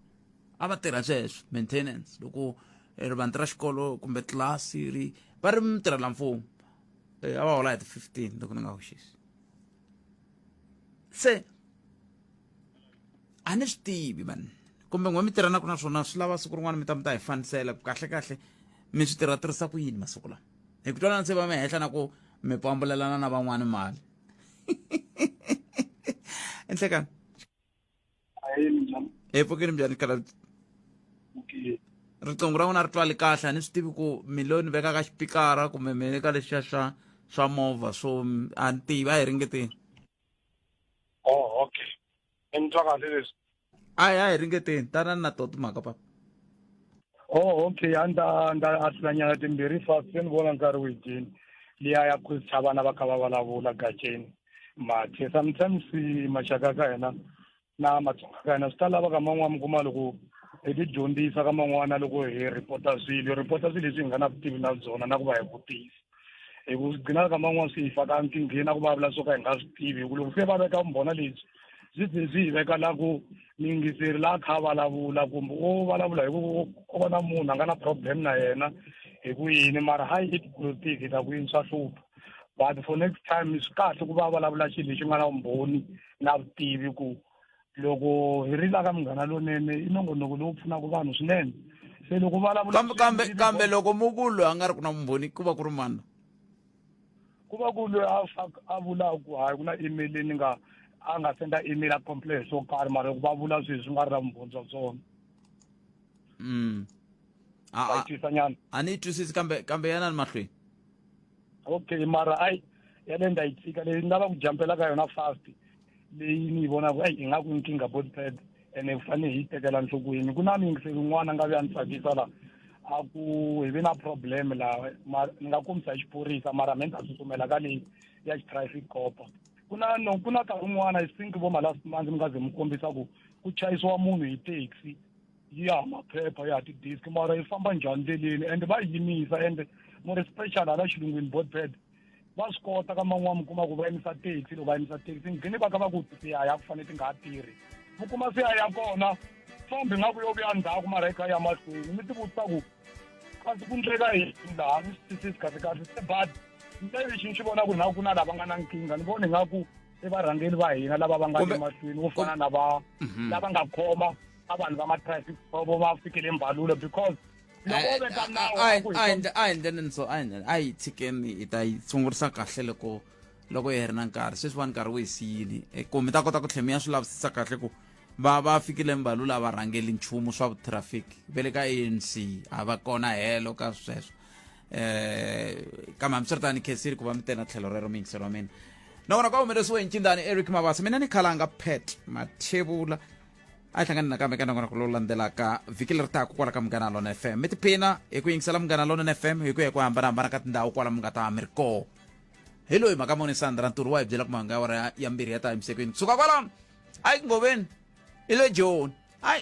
a va tirha sweswo maintenance loko eh, rivandla ra xikolo kumbe tlilasi ri va ri mutirhela mfumo eh, a va hola hi ti-fifteen loko ni nga hoxisi se a ni swi tivi vanhu kumbe n'we mi tirhanaka na swona swi lava siku rin'wana mi ta mi ta hi fanisela ku kahlekahle mi swi tirha tirhisa ku yini masiku lama hi ku twanana se va mi henhla na ku mi pambulelana na van'wana mali enhlekani hi pfukini njhani kala riqingho ra n'wina ri twali kahle a ni swi tivi ku mi lo ni veka ka xipikara kumbe mi le ka lexiya swa swa movha so a ni tivi a hi ringeteni oh okay ni twa kahle leswi a hi a hi ringeteni tanani na to timhaka papa oh okay a ni ta ni ta ahlulanyana timbirhi fast se ni vona nkarhi wu dyini liya ya ku tsha vana va kha va vulavula gaceni mathe sometimes maxaka ka hina na matsonga ka hina swi ta lava ka man'wana mi kuma loko hi ti dyondzisa ka man'wana loko hi rhipota swilo hi rhipota swilo leswi hi nga na vutivi na byona na ku va hi vutisa hi ku swi gcinaka kama n'wana swi hi faka nkingheni na ku vavula swo ka hi nga swi tivi hi ku loko se va veka vumbhona lebyi byi byi byi hi veka la ku mingiseri la kha vulavula kumbe o vulavula hi ku o va na munhu a nga na problem na yena hi ku yini mara hi it politiki hi ta ku yini swa hlupha but for next time swi kahle ku va vulavula xilo lexi nga na vumbhoni na vutivi ku loko hi rila ka munghana lonene i nongonoko lowu pfunaka vanhu swinene se loko vulavulakambe kambe kambe loko mu ku loyi a nga ri ku na vumbhoni ku va ku ri mani ku va ku loyi a a vulaka ku hayi ku na email ni nga a nga senda email a complain swo karhi mara loko va vula sweswi nga ri na vumbhoni bya swona mm. nyana a ni yi twisisi kambe kambe yana ni mahlweni okay mara ayi yaleyo ndza yi tshika leyi ni lava ku jampela ka yona fast leyi ni yi vonaka eyi ingaku nkingha body pad ene ku fanele hi yi tekela nhlokweni ku na miyingiseli yin'wana nga vi ya ni tsakisa laha a ku hi vi na problem laha ni nga kombisa hi xiphorisa mara me ni ta tsutsumela ka leyi ya xitraffic copa ku na no ku na nkarhi wun'wana i think vo malast month mi nga ze mi kombisa ku ku chayisiwa munhu hi taxi yi ya maphepha ya ti-disk mara yi famba njhani ndleleni ende va yi yimisa ende mu ri special hala xilungwini botpad va swi kota ka man'wana mi kuma ku va yimisa taxi loko va yimisa taxi nghini va ka va ku ti a ya ku fanele ti nga ha tirhi mi kuma se a ya kona fambi nga ku yo vuya ndzhaku mara yi kha ya mahlweni mi ti vutisa ku kasi ku ndleka yini laha ni swi twisisi kahle kahle se but nte lexi ni xi vona ku na ku na lava nga na nkingha ni voni nga ku i varhangeri va hina lava va nga le mahlweni vo fana na va mhm. lava nga khoma a vanhu va ma-traffic vo va fikele mbalulo because loko u veka nawu a yi- ku hi a yi ndle- a hi ndleleni so a hi ndleleni a yi tshikeni hi ta yi sungurisa kahle loko loko yi heri na nkarhi sweswiwani nkarhi wu hi siyile Eh, ku mi ta kota ku tlhe mi ya swi lavisisa kahle ku va va fikile mbalu lava rhangeli nchumu swa vutraffic ve le ka anc a va kona helo ka sweswo um kambe hambiswiritani khesiri ku va mi tena tlhelo rero mi yingiseriwa mina nakona ka humelesiwe hi ncindani eric mabasa mina ni khalanga pet mathevula a hi hlangani nakambe ka nongonoko lowu landzelaka vhiki leri taka kwala ka munghana lona fm mi tiphina hi ku yingisela munghana lona fm hi ku ya hi ku hambanahambana ka tindhawu kwala mi nga ta mi ri koho hi loyi mhaka moni sandra ntirho wa hi byela ku mahanga ya wara ya mbirhi ya ta emisekweni kusuka kwalano hayi ku ngoveni i le joni hayi